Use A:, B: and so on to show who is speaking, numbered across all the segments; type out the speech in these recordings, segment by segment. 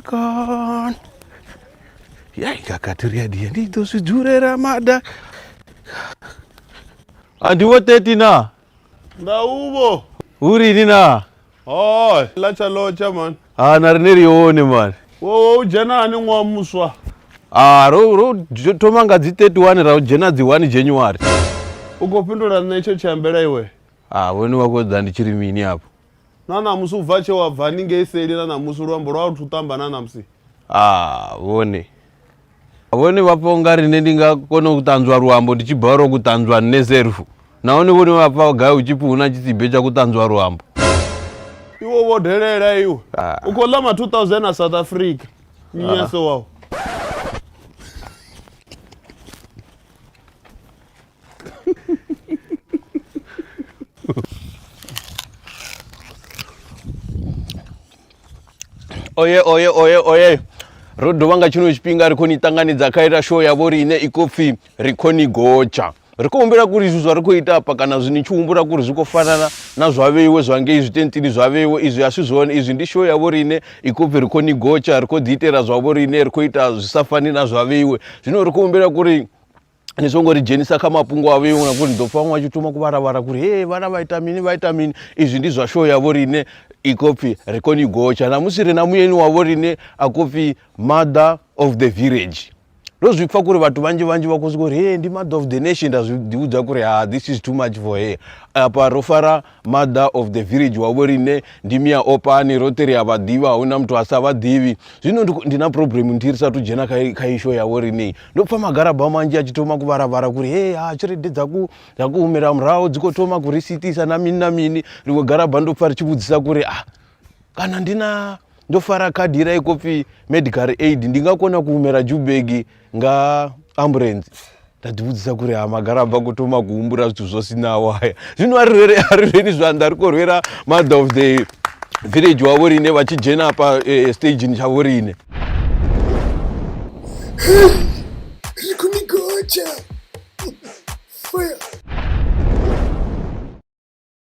A: Ramadan. Ya ikakatiria dia ndito sijure Ramadan. Andi wote tina. Nda ubo. Uri nina. Oh, lacha locha man. Ah, narineri one man. Wo wo jana ani ngwa muswa. Ah, ro ro jo- thoma nga dzi 31 ra u dzhena dzi 1 January. Ukopindula nṋe itsho tshiambela iwe. Ah, vhone vha khou ḓa ndi tshi ri mini afho. Na ṋamusi u bva tshe wa bva ni ngei seli na ṋamusi luambo lwa thu ṱamba na ṋamusi. Ah vhone. Vhone vha pfa unga rine ndi nga kona u ṱanzwa luambo ndi tshi bora ku ṱanzwa nne serfu. Nahone vhone vha pfa gai u tshipfi huna tshitsibe tsha ku ṱanzwa luambo. Iwe wo delela iwe. Ah. U khou ḽa ma 2000 a South Africa. Nyaso ah. wao. oye oye oye oye ro dovha nga tshino tshifhinga ri khou ni ṱanganedza kha ita show yavho riine i khou pfhi ri khou ni gotsha ri khou humbela kuri izwi zwa ri khou ita afha kana zwi ni tshi humbula kuri zwi khou fanana na zwa vheiwe zwa ngei zwitentini zwa vheiwe izwi a si zwone izwi ndi show yavho riine i khou pfhi ri khou ni gotsha ri khou ḓi itela zwavho riine ri khou ita zwi sa fani na zwa vheiwe zwino ri khou humbela kuri ni songo ri dzhenisa kha mafhungo a vheiwe ngauri ni ḓo pfha vhaṅwe vha tshi thoma ku vharavhara kuri he vhana vha ita mini vha ita mini izwi ndi zwa show ya vho riṋe i khou pfhi ri kone i gotsha namusi ri na muyeni wa vho riṋe a khou pfhi mother of the village ndo zwi pfha kuri vhathu vhanzhi vhanzhi vha khou sokou ri he ndi mother of the nation nda zwi ḓivhudza kuri ha this is too much for her afha ro fara Mother of the village wavo rine ndimi ya opani rote ri a vha ḓivha a huna muthu a sa vha ḓivhi zwino ndi na problem ndi ri sa tu dzhena kha kha isho yavho rine ndo pfa magaraba manzhi a tshi thoma ku vharavhara kuri he ha tshelede dza ku dza ku humela muraho dzi kho thoma ku ri sitisa na mini na mini ḽiṅwe garaba ndo pfa ri tshi vhudzisa kuri a ah, kana ndi na ndo fara khadi ira i khou pfhi medical aid ndi nga kona ku humela jubegi nga ambulance nda ḓi vhudzisa kuri ha magara bva ku thoma ku humbula zwithu zwo sinaho haya zwino a ri a ri reni zwanḓa ri khou rwela mother of the village wa vhorine vha tshi dzhena hafha eh, stageni tsha vhorine ri khou ni gotsha fire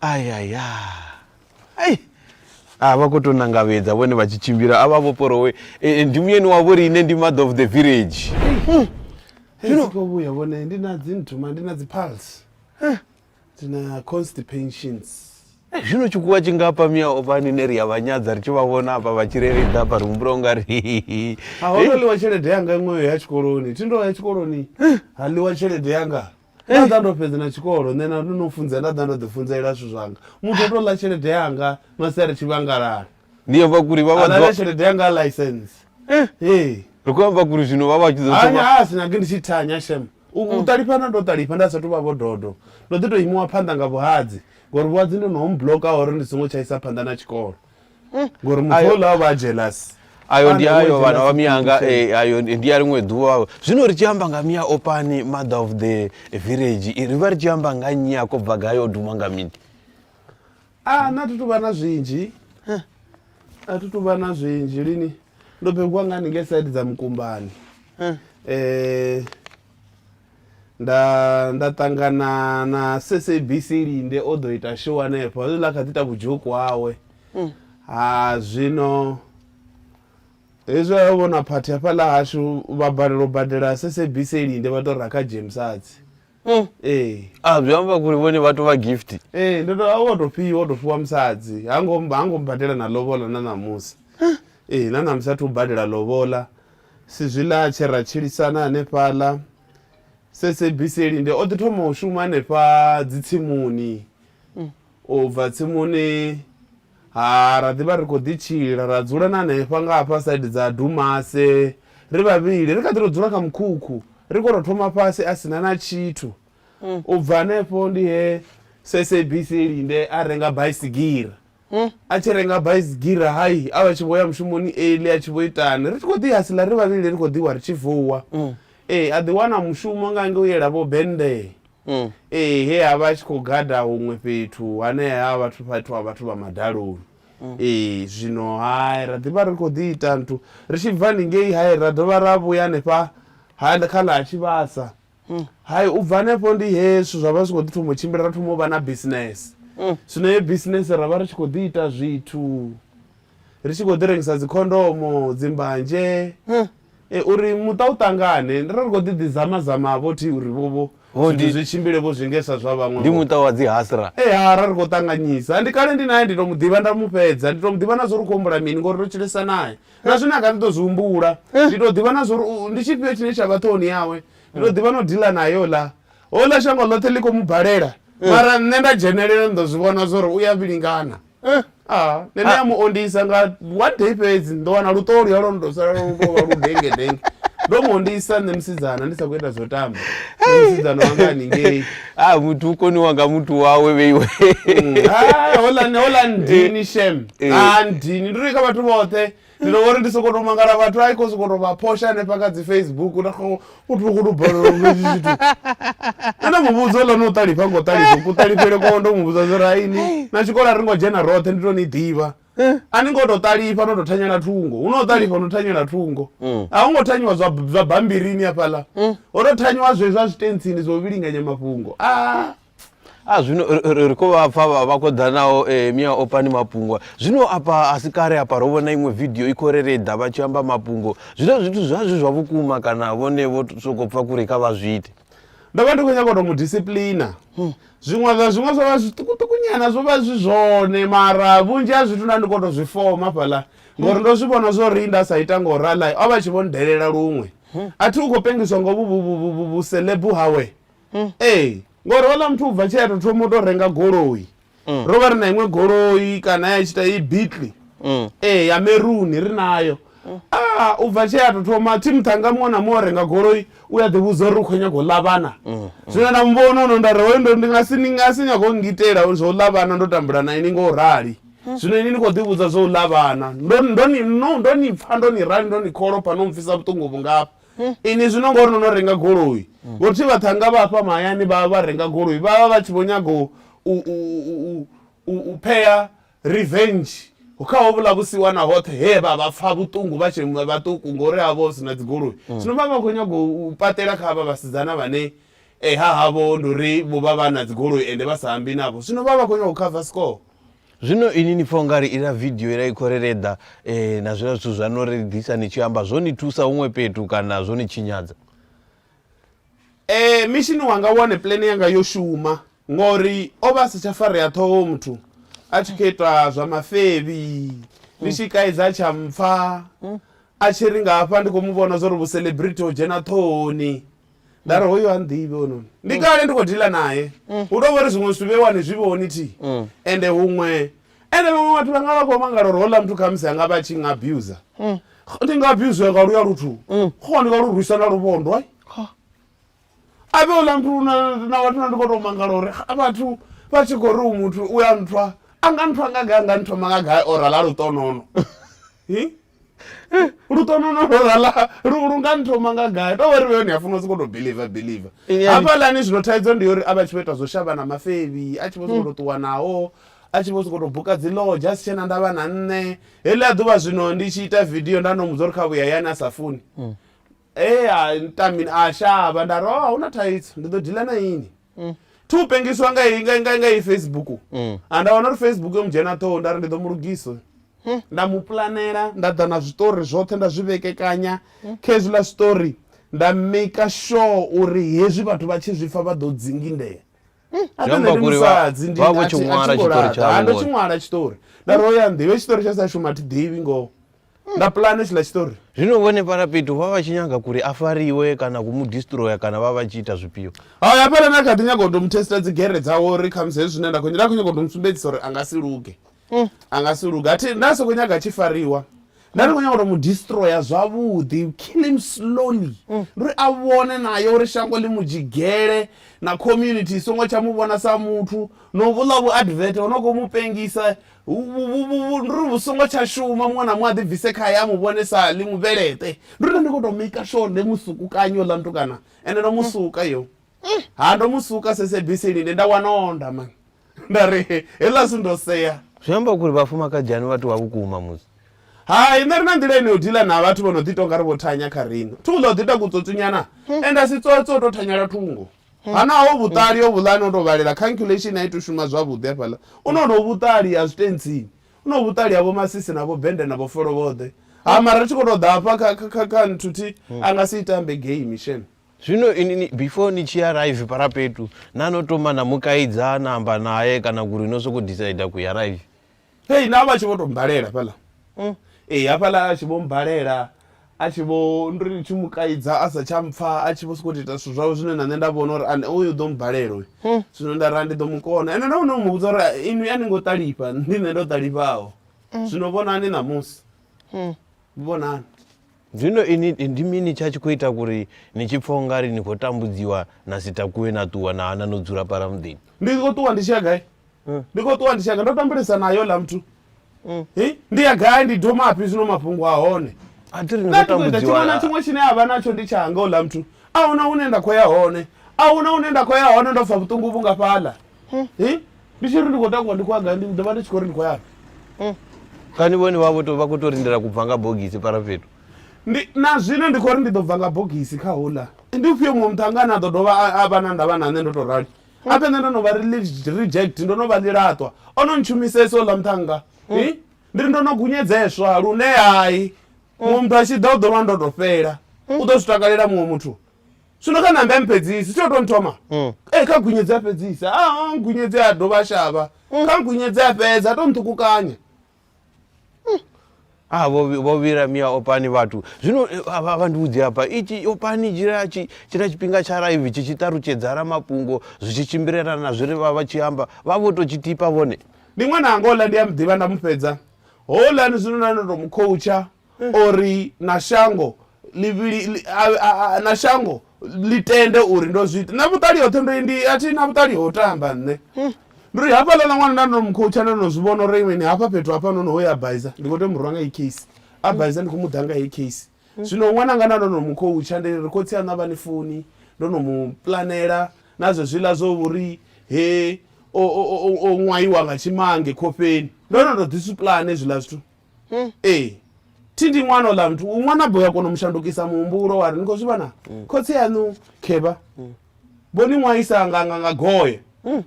A: ayaya ai a vha khou tou nangavhedza vhone vha tshi tshimbila a vha vho porowe e, e, ndi muyeni wavho ri ine ndi mother of the village hmm. zwino khou vhuya vhone ndi na dzi nthuma ndi na dzi pulse eh. ndi na constipations eh, zwino tshikuwa tshi nga pa mia o vhani ne ri ya vhanyadza ri tshi vha vhona hafha vha tshireledza hafha ri humbula unga ri a ho no ḽiwa tshelede yanga iṅweyo ya tshikoloni thi ndo ya tshikoloni ha ḽiwa tshelede yanga nda ḓa ndo fhedzi na tshikolo nṋe na no funzea nda ḓa ndo ḓi funzelela zwithu zwanga muthu o tou ḽa tshelede yanga masi a ri tshivhangalala ndi amba kuri vha vha alale tshelede yanga license eh. ee ri khou amba kuri zwino vha vha tshi ḓo anya thoma a sina ke ndi tshi thanya shem u u ṱalifha na ndo ṱalifha nda sathu vha vho dodo ndo ḓi tou imiwa phanḓa nga vhuhadzi ngori vhuhadzi ndo no home bloka uri ndi songo tshaisa phanḓa na tshikolo ngori muthu ola vha jealous ayo ndi ayo vhana vha miyanga eh, ayo ndi ya ḽiṅwe ḓuvha zwino ri tshi amba nga miya opani mother of the village eh, ri vha ri tshi amba nga nnyi a kobva gai o duma nga mini a na thi tuvha na zwinzhi a thi tuvha na zwinzhi lini ndo bebiwa nga haningei side dza mukumbani um nda nda ṱangana na SABC Linde o ḓo ita show hanefho zwi ḽa kha ḓi ita vhudzhoku hawe mm. ha zwino hezwi a vhona phathi hafhaḽa hashu vha balelwa u badela SABC Linde vha tou ra kha James Arts mm. ee a zwi amba kuri vhone vha tou vha gift ee ndo tou wo tou fhiwa wo tou fhiwa musadzi ha ngo ha ngo badela na lobola na ṋamusi ee na ṋamusi a thu badela lobola Si zwiḽa tshe ra tshilisana hanefhaḽa SABC linde o ḓi thoma u shuma hanefha dzitsimuni. U bva tsimuni ha ra ḓi vha ri khou ḓi tshila ra dzula na hanefha nga hafha saidi dza Dumase ri vhavhili. Ri kha ḓi tou dzula kha mukhukhu ri khou tou thoma fhasi a si na na tshithu. U bva hanefho ndi he SABC linde a renga baisigira. A tshi renga baisigira hai a vha tshi vho ya mushumoni early a tshi vho itani. Ri tshi khou ḓi hasila ri vhavhili ri khou ḓiwa ri tshi vuwa. Ee a ḓi wana mushumo nga ngei u yela vho Bendee. Ee he a vha a tshi khou gada huṅwe fhethu hanea ha vhathu fhethu ha vhathu vha madaloni. Ee zwino ha ra ḓi vha ri khou ḓi ita nthu ri tshi bva haningei hai ra dovha ra vhuya hanefha ha kha ḽa ha Tshivhasa. Hai, u bva hanefho ndi he zwithu zwa vha zwi tshi khou ḓi thoma u tshimbila, ra thoma u vha na bisinese. Zwino heyo bisinese ra vha ri tshi khou ḓi ita zwithu, ri tshi khou ḓi rengisa dzikhondomo, dzimbanzhe, uri muṱa u ṱangane. Ndo ri khou ḓi ḓi zama zama vho thi uri vho vho zwithu zwi tshimbile vho zwi nge sa zwa vhaṅwe. Ndi muṱa wa dzi hasra. Ee, ha ra ri khou ṱanganyisa. Ndi kale ndi nae, ndi tou mu ḓivha nda mu fhedza. Ndi tou mu ḓivha na zwa uri u khou humbula mini ngori ro tshilesa nae. na zwine a nga ndi ḓo zwi humbula eh. ndi tou ḓivha na zwa uri ndi tshifhio tshine tsha vha ṱhoni yawe ndi tou ḓivha no dila nayo la hola shango ḽoṱhe ḽi khou mu balela eh. mara nṋe nda dzhenelela ndi ḓo zwi vhona zwa uri u ya vhilingana eh. ah, nṋe ndi ah. ya mu ondisa nga one day fhedzi ndo wana luṱolo ya lwono tou sala lu tou vha lu denge denge ndo mu ondisa nṋe musidzana ndi sa khou ita zwo tamba musidzana wanga haningei ha ah, muthu u koniwa nga muthu wawe vheiwe mm. ah, holani holani eh. ndini shem ha eh. ah, ndini ndi ri kha vhathu vhoṱhe ndi ndo vhori ndi soko to mangala vhathu a i khou soko to vha phosha hanefha kha dzi facebook u tokho u tokho to balelwa nga tshi tshithu ana muvhudzo lani u ṱalifha ngo ṱalifha ku ṱalifhele kwa ndo muvhudza zwi raini na tshikolo a ri ngo dzhena roṱhe ndi to ni ḓivha eh. a ni ngo to ṱalifha no to thanyela thungo hu no ṱalifha no thanyela thungo mm. a hu ngo thanyiwa zwa bambirini afhaḽa mm. o to thanyiwa zwe zwa zwitentsini zwo vhilinganya mafhungo a ah. a ah, zwino ri khou vha pfa vha khou ḓa nao eh, mia opani mapungwa zwino apa a si kale apa ro vhona iṅwe vidio i khou rereḓa vha tshi amba mapungo zwino zwithu zwa zwi zwa vhukuma kana vhone vho sokou pfa kuri kha vha zwi ite ndo vha ndi khou nyaka u to mu disciplina hmm. zwiṅwe zwa zwiṅwe zwo vha zwiṱukuṱuku nyana zwo vha zwi zwone mara vhunzhi ha zwithu nda ndi kho to zwi foma fhaḽa ngori ndo zwi vhona zwo ri nda sa ita ngo rala o vha tshi vho ndelela luṅwe a thi u khou pengiswa ngo vhuselebu hawe ee ngori ola muthu ubva tshea to thoma u to renga goloi mm. ro vha ri na iṅwe goloi kana ya tshita i bitli mm. ee ya meruni ri nayo a u bva tshee a to thoma thi muṱhanga muṅwe na muṅwe o renga goloi u a ḓivhudza uri u khou nyanga u ḽa vhana zwino na muvhona ono nda ri hoyo ndo ndi nga si ni nga si nyaga u ngitela zwo u ḽa vhana ndo tambula na ini nga u rali zwino ini ni khou ḓivhudza zwo u ḽa vhana ndo ndo ni no ndo ni pfha ndo ni rali ndo ni kholopha no mpfhisa vhuṱungu vhungafha ini zwino ngori no no renga goloi vho thi vhaṱhanga vha hafha mahayani vha vha renga goloi vhavha vha tshi vho nyaga u u u u u phea Revenge. Kha hovhuḽa vhusiwana hoṱhe he vha vha pfa vhuṱungu vha tshe vhaṱuku ngori ha vha hu si na dzigoloi. Mm. Zwino vha vha khou nyaga u paṱela kha havha vhasidzana vhane eh, ha havho ndi uri vho vha vha na dzigoloi ende vha sa ambi navho. Zwino vha vha khou nyaga u cover score. Zwino ini ni pfa ungari ila video ila i khou ri reḓa eh, na zwiḽa zwithu zwa no ri ḓisa ni tshi amba zwo ni thusa huṅwe fhethu kana zwo ni tshinyadza? Eh mission wanga one plan yanga yo shuma ngori o vha a si tsha farea ṱhoho muthu a tshi khou itwa zwa mafevhi ndi tshi kaidza a tsha mpfa a tshi ri nga hafha ndi khou mu vhona zwori vhucelebrity ho dzhena ṱhohoni nda ri hoyo ha nḓivhi hononi ndi kale ndi khou dila naye hu tou vha uri zwiṅwe zwithu vheiwani zwi vhoni thi ende huṅwe ende vhaṅwe vhathu vha nga vha khou mangala uri houḽa muthu khamusi anga vha tshi nga abuser mm. ndi nga abuser nga luya luthu mm. kho ndi nga lu rwisa na luvhondo ai a vhe houḽa muthu na vhathu na ndi khou tou mangala uri vhathu vha tshi khou ri u muthu u ya nthwa a nga nthwa nga gai a nga nthoma nga gai ora ḽa luṱonono Eh, lutono no lorala lu nga nthoma nga gai to vhori vhone afuna soko to believer believer hafha lani zwino thaidzo ndi uri avha tshi ita zwo shavha na mafevi a tshi vho soko to ṱuwa naho a tshi vho soko to buka dzi lodge a si tshena ndavha na nṋe heḽi a ḓuvha zwino ndi tshi ita video nda no mudza uri kha vhuya yani a sa funi Ee, a nṱa mini a shavha nda ri o a hu na thaidzo ndi ḓo dila na ini thi u pengisiwa nga i- nga- nga- nga i facebook a nda wana uri facebook yo mu dzhena ṱhoho nda ri ndi ḓo mu lugisa uyu. nda mu pulanela nda ḓa na zwiṱori zwoṱhe nda zwi vhekekanya kha hezwiḽa zwiṱori nda maker sure uri hezwi vhathu vha tshi zwi pfa vha ḓo dzingindea a Zwi amba ṱoḓe ndi uri vha- musadzi ndi- vha vho a tshi thi- a thi ṅwala ngo tshiṱori laṱa. tshavho Ha, ndo tshi vhone. ṅwala tshiṱori nda ri oya nḓivhe tshiṱori tsha sa shuma thi ḓivhi ngoho na pulane tshiḽa tshiṱori zwino vhone fhala fhethu vha vha tshi nyaga kuri a fariwe kana ku mu distroya kana vha vha tshi ita zwifhio haya hafhaḽa na kha ḓi nyaga u tou mu testa dzi gere dzawe uri khamusi hezwi zwine nda khou nda khou nyaga u tou mu sumbedzisa uri a nga si luge mm. a nga si luge athi nda sokou nyaga a tshi fariwa nda ndi khou nyaga u tou mu distroya zwavhuḓi kill him slowly mm. uri a vhone naye uri shango ḽi mu dzhigele na community i songo tsha mu vhona sa muthu no vhuḽa vhu advert ho no khou mu pengisa Ndi ri vhu songo tsha shuma muṅwe na muṅwe a ḓi bvise khaye a mu vhone sa ḽi mubveleṱe ndi ri nṋe ndi kho to maker sure ḽe musukukanyi oḽa mutukana ende ndo musuka yo ha ndo musuka sese bisi linde nda wana onda mani nda ri heḽa si ndo sea zwi amba uri vhafumakadzhani vha tou vha vhukuma musi hai nṋe ri na nḓila ine yo dila na vhathu vho no ḓi tonga ri vho thanya kha rino thungo ḽa u ḓi ita kutsotsunyana ende a si tsotso u to thanyela thungo Ha naho vhuṱali ho vhuḽa no tou vhalela calculation a i tou shuma zwavhuḓi hafhaḽa. U na honovhu vhuṱali ha zwitentsini. U na hovhu vhuṱali ha vhomasisi na vhobende na vhofolovhoḓe. Ha mara ri tshi khou tou ḓa hafha kha kha kha kha nthuthi a nga si i tambe game shem. Zwino ini ni before ni tshi arrive parapetu na no thoma na mu kaidza na amba nae kana kuri no soko decider ku arrive. Hei na vha tshi vho to mmbalela fhaḽa mm. Ee hafhaḽa a tshi vho mmbalela a tshi vho ndi ri tshi mu kaidza a sa tsha mpfa a tshi vho sokou tou ita zwithu zwawe zwine na nṋe nda vhona uri ane uyu ḓo mmbalela uyu mm. zwino nda ra ndi ḓo mu kona ende ndo vhona u mu vhudza uri inwi a ni ngo ṱalifha ndi nṋe ndo ṱalifhaho mm. zwino vhonani ṋamusi vhonani Zwino inwi ndi mini tsha tshi khou ita uri ni tshi pfa u nga ri ni khou tambudziwa na si takuwe na ṱuwa na hana no dzula fhaḽa muḓini? Ndi khou ṱuwa ndi tshi ya gai? Ndi khou ṱuwa ndi tshi ya gai? Ndo tambulesa nae houḽa muthu. Hi, ndi ya gai? Ndi domafhi zwino mafhungo a hone? A thi ri ni Nṋe a khou thi khou ita tshiṅwe na tambudziwa. tshiṅwe tshine a vha natsho ndi tshanga houḽa muthu. A hu na hune nda khou ya hone. A hu na hune nda khou ya hone ndo pfa vhuṱungu vhungafhaḽa. mm. hey, ndi tshiri ndi khou takuwa ndi khou agai ndi ḓovha ndi tshi khou ri ndi khou yafhi mm. kani vhone vha vha khou tou lindela ku bva nga bogisi para fhethu ndi na zwino ndi khou ri ndi ḓo bva nga bogisi kha hula ndi ufhio muṅwe muthu anga ane a ḓo dovha a vha na ndavha na nṋe ndo tou rali mm. ape nṋe ndo no vha reject ndo no vha ḽilaṱwa o no ntshumisesa oḽa muthanga mm. ndi ri ndo no gunyedzeswa lune hai muṅwe muthu a tshi ḓa u ḓo lwa ndo to fhela u ḓo zwi takalela muṅwe muthu zwino kha nambe amphedzisi tsho to nthoma mm. e kha gwinyedze a fhedzisa a ah, ah, gwinyedze a dovha a shavha mm. kha gwinyedze a fhedza a to nṱhukukanya mm. ah, vho vhira mia opani vhathu zwino eh, vha ndiudzi hapa ichi opani tshina tshifhinga tsha raivi tshi tshi ṱalutshedza ra mafhungo zwi tshi tshimbilelana na zwi ri vha vha tshi amba vha vho to tshi tipa vhone ndi ṅwana anga ola ndi a muḓivha nda mu fhedza holani zwino na ndo to mu khoutsha uri na shango ḽivhili na shango ḽi tende uri ndo zwi ita na vhuṱali hoṱhe ndo ndi a thi na vhuṱali ho tamba nṋe hmm. ndi ri hafhaḽa na ṅwana nda ndo mu khoutsha nda no zwi vhona uri mini hafha fhethu hafha no no ho ya baiza ndi khou tea mu rwa nga i case a hmm. baiza ndi khou mu ḓa nga i case hmm. zwino ṅwana nga nda ndo no mu khoutsha ndi ri khotsi a navha ni foni ndo no mu planela na zwe zwiḽa zwo vhuri he o ṅwaiwa nga tshimange khofheni ndo no to ḓi su pulane zwiḽa zwithu Hmm. ee thi ndi ṅwana ola muthu u ṅwana bo ya kona u mu shandukisa muhumbulo wa ri ni khou zwi vhona hmm. khotsi yaṋu khevha hmm. vho ni ṅwaisa nga nga nga goye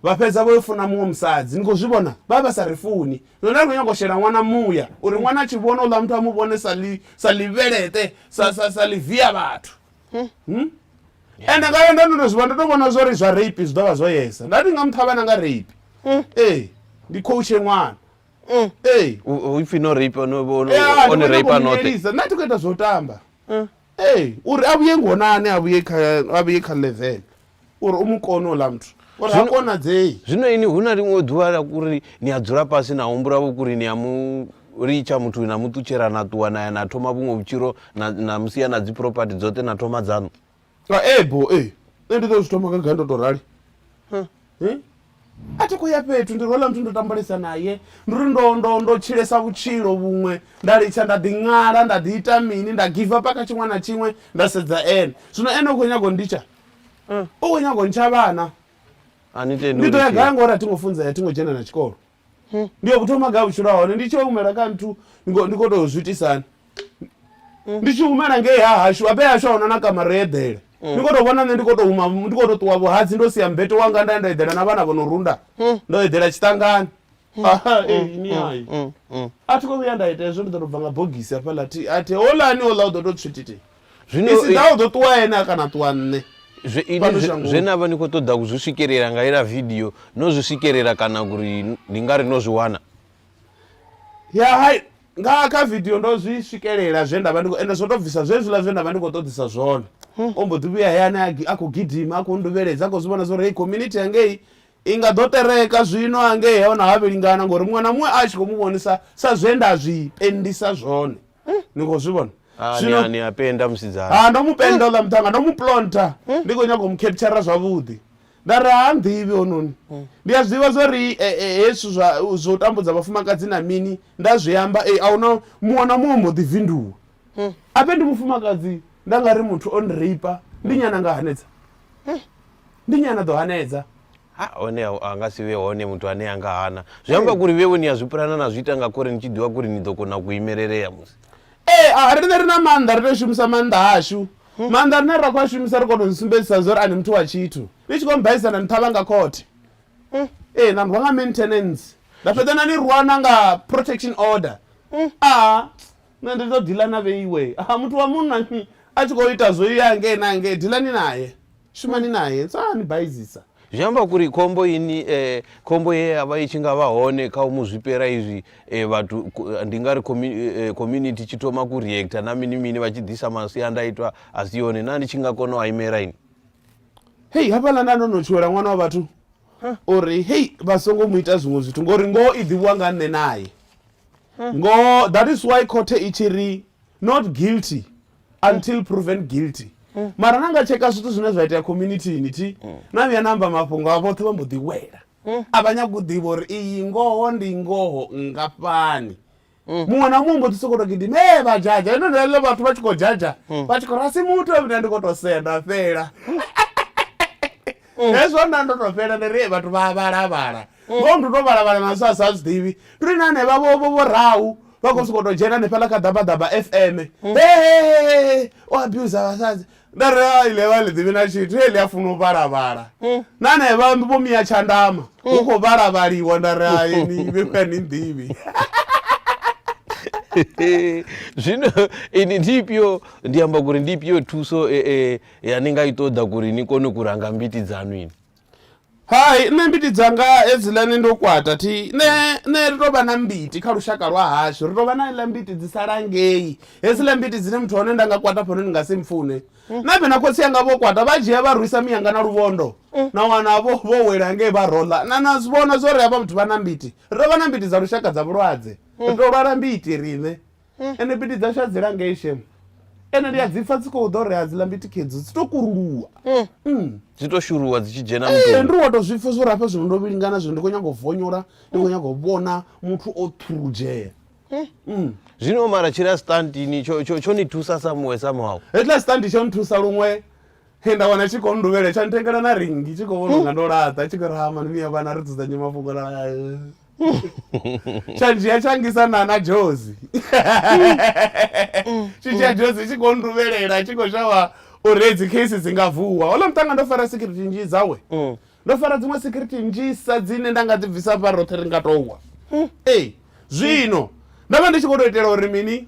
A: vha fhedza vho yo funa muṅwe musadzi ni khou zwi vhona vha vha sa ri funi no nda ri khou nyanga u shela ṅwana muya uri ṅwana a tshi vhona ola muthu a mu vhone sa li sa livhelete sa sa sa livia vhathu ende nga yo ndo ndo ndo zwi vha ndo to vhona zwori zwa rape zwi ḓo vha zwo yesa nda ndi nga muthu a vha na nga rape ee ndi khou tshe ṅwana Mm. Hey. U- u- if you no rape ono ono- Yeah, one ndi rape khou anoṱhe munyelisa. nna ti khou ita zwo tamba Mm. ee uri a vhuye ngonani a vhuye kha- a vhuye kha level uri u mu kone ola muthu uri ha Zwino- konadzei zwino ini hu na ḽiṅwe ḓuvha la kuri ni a dzula fhasi na humbula vho kuri ni a mu litsha muthu na muṱutshela na ṱuwa na ya na thoma vhuṅwe vhutshilo na na musia na dzi property dzoṱhe na thoma dzanu ee bo ee nṋe ndi ḓo zwi thoma gaga ndo to rali a thi khou ya fhethu ndi rwela muthu ndo tambalesa naye ndi uri ndo ndo ndo tshilesa vhutshilo vhuṅwe nda litsha nda ḓi ṅala nda ḓi ita mini nda give up kha tshiṅwe na tshiṅwe nda sedza ene zwino ene u khou nyaga u nditsha u khou nyaga u ntsha vhana ndi ḓo ya gai ngori a thi ngo funzea a thi ngo dzhena na tshikolo hmm. ndi yo kuthoma ga vhutshilo hone ndi tshi humela kha nthu ndi khou tou zwi itisani hmm. ndi tshi humela ngei ha hashu abe hashu ahuna na kamara yo eḓela hmm. ndi khou tou vhona nṋe ndi khou tou huma ndi khou tou ṱuwa vhuhadzi ndo sia mbeto wanga nda ndo eḓela na vhana vho no runda ndo eḓela tshiṱangani ni hayi a thi khou vhuya nda ita hezwo ndi ḓo tou bva nga bogisi hafhaḽa a thi holani ola u ḓo tou tswititi zwino isi ḓaho ḓo ṱuwa ene a kana ṱuwa nṋe zwe ini Fhano zwe- shangoni. zwe na vha ni khou ṱoḓa ku zwi swikelela nga ila vidio no zwi swikelela kana uri ndi nga ri no zwi wana ya hai nga kha vidio ndo zwi swikelela zwe ndavha ndi khou- ende zwo to bvisa zwezwiḽa zwe ndavha ndi khou ṱoḓisa zwone o mbo ḓi vhuya hayani a gi- a khou gidima a khou nduvheledza a khou zwi vhona zwa uri hei community yangei i nga ḓo tereka zwino hangei hona ha vhelingana ngori muṅwe na muṅwe a tshi khou mu vhonisa sa zwe nda zwi pendisa zwone ni khou zwi vhona Ah, ni a- ni a penda musidzana ha ndo mu penda oḽa muṱhanga ndo mu plonta ndi khou nyanga u mu captura zwavhuḓi nda ri ha nḓivhi hononi ndi a zwiḓivha zwa ri eh, eh, hezwi zwa zwa u tambudza vhafumakadzi na mini nda zwi amba eh, a huna muṅwe na muṅwe mbo ḓi vinduwa ape ndi mufumakadzi nda nga ri muthu o nreipa ndi nyana nga hanedza ndi nnyi ana ḓo hanedza ha hone a nga si vhe hone muthu ane a nga hana zwi amba kuri vhewe ni a zwi pulana na zwi ita nga kuri ni tshi ḓivha kuri ni ḓo kona ku imelelea musi ee eh, a riṋe ri na maanḓa ri tea u shumisa maanḓa ashu hmm. maanḓa rine ra khou a shumisa ri kona u sumbedzisa zwa uri a ni muthu wa tshithu ni tshi khou mbaisa na ni ṱhavha nga khothe hmm. ee eh, na rwa nga maintenance nda fhedza na ni rwana nga protection order hmm. a ah, Nṋe ndi ḓo ḓila na vheiwe. Ha, muthu wa munna a tshi khou ita zwo ya hangei na hangei, dilani nae, shumani nae, sa a ni baizisa. Zwi amba kuri khombo ini, khombo ye ya vha i tshi nga vha hone kha u mu zwipela izwi vhathu, ndi nga ri community i tshi thoma ku reactor na mini mini vha tshi ḓisa masiandaitwa a si one, naa ni tshi nga kona u a imela ini? Hei, hafhaḽa nda ndo no tshuwela ṅwana wa vhathu uri hei vha songo mu ita zwiṅwe zwithu, ngori ngoho i ḓivhiwa nga nṋe nae. ngoho that is why khothe i tshi ri not guilty until proven guilty mara na nga tsheka zwithu zwine zwa itea communitini thi na vhuya na amba mafhungo a vhoṱhe vha mbo ḓi wela a vha nyaga u ḓivha uri iyi ngoho ndi ngoho ngafhani muṅwe na muṅwe mbo ḓi sokou to gidima e vha dzhadzha ende ndeḽo vhathu vha tshi khou dzhadzha vha tshi khou rasi muthu nda ndi khou to sea nda fhela hezwo nda ndo to fhela ndi ri vhathu vha vhala vhala Ngoho ndi u tou vhala-vhala na zwe a sa zwi ḓivhi. Ndi ri na henevha vho vho vhorau vha khou sokou tou dzhena hanefhaḽa kha Ḓabaḓaba FM. Hehehehe! O abuser vhasadzi. Nda ri ha iḽi vha ḽi ḓivhi na tshithu, heḽi a funa u vhala-vhala. Na henevha vho Mia Tshandama hu khou vhala-vhaliwa nda ri hai ni vhe ni nnḓivhi. Zwino ini ndi ifhio ndi amba kuri ndi ifhio thuso e e ya ni nga i ṱoḓa kuri ni kone ku ranga mbiti dzaṋu ini? Hai nṋe mbiti dzanga hedziḽani ndo kwata thi nṋe nṋe ri tovha na mbiti kha lushaka lwa hashu ri tovha na iḽa mbiti dzi sala ngei hedziḽa mbiti dzine muthu hone nda nga kwata fhano ni nga si mpfune mm. na vhena khotsi anga vho kwata vha dzhia vha rwisa miyanga na luvhondo mm. na wana vho vho wela ngei vha rola na na vhona zwori havha muthu vha na mbiti ri tovha na mbiti dza lushaka dza vhulwadze mm. ri to lwala mbiti riṋe Ende mbiti dzashu adzila ngei shem. Ende ndi adzipfa dziko do re adzila mbiti kedzo dzito kuruluwa. Mm. Dzito shuruwa dzichi dzhena mutoni. Ende ri wato zwipfa zwo rafha zwino ndo vhilingana zwino ndi kho nyago vonyora ndi kho nyago vhona muthu o thurujea. Mm. Zwino mara tshila stand ni tsho tsho tsho ni thusa sa muwe sa mwawo. Hetla stand tsho ni thusa luṅwe henda wana tshi kho nduvhela tsha ntengela na ringi tshi kho vhona nga ndo laṱa tshi kho rahama ni vhuya vhana ri dzudzanye mafhungo la tshanzhiya tshangisa nana jozi tshidzhia jozi tshi khou nduvhelela tshi khou shavha uri hedzi case dzi nga vuwa hola muṱanga ndo fara security nzhi dzawe mm. ndo fara dziṅwe security nzhisa dzine nda nga dzi bvisa fha roṱhe ri nga towa mm. ee zwino ndo vha ndi tshi khou tou itela uri mini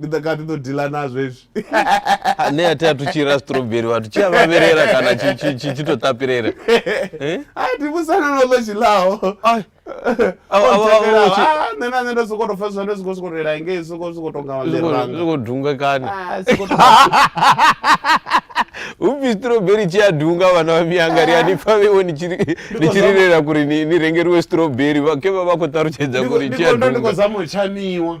A: ndi ḓo kati ḓo dila nazvo hezvi ne a tea tuchira strawberry vhathu tshi avaverera kana chitotapirera eh? a timusana no ḽo tshilaho nṋe na nṋe ndo soko to pfesesa ndo soko soko lela ngei soko soko tonga malerangako dunga kana upfi strawberry tshi a dunga vana va miyanga ri a ni pfa vewo ni tshirirera kuri ni rengeriwe strawberry vake va va kho ṱalutshedza kuri tshi a dunga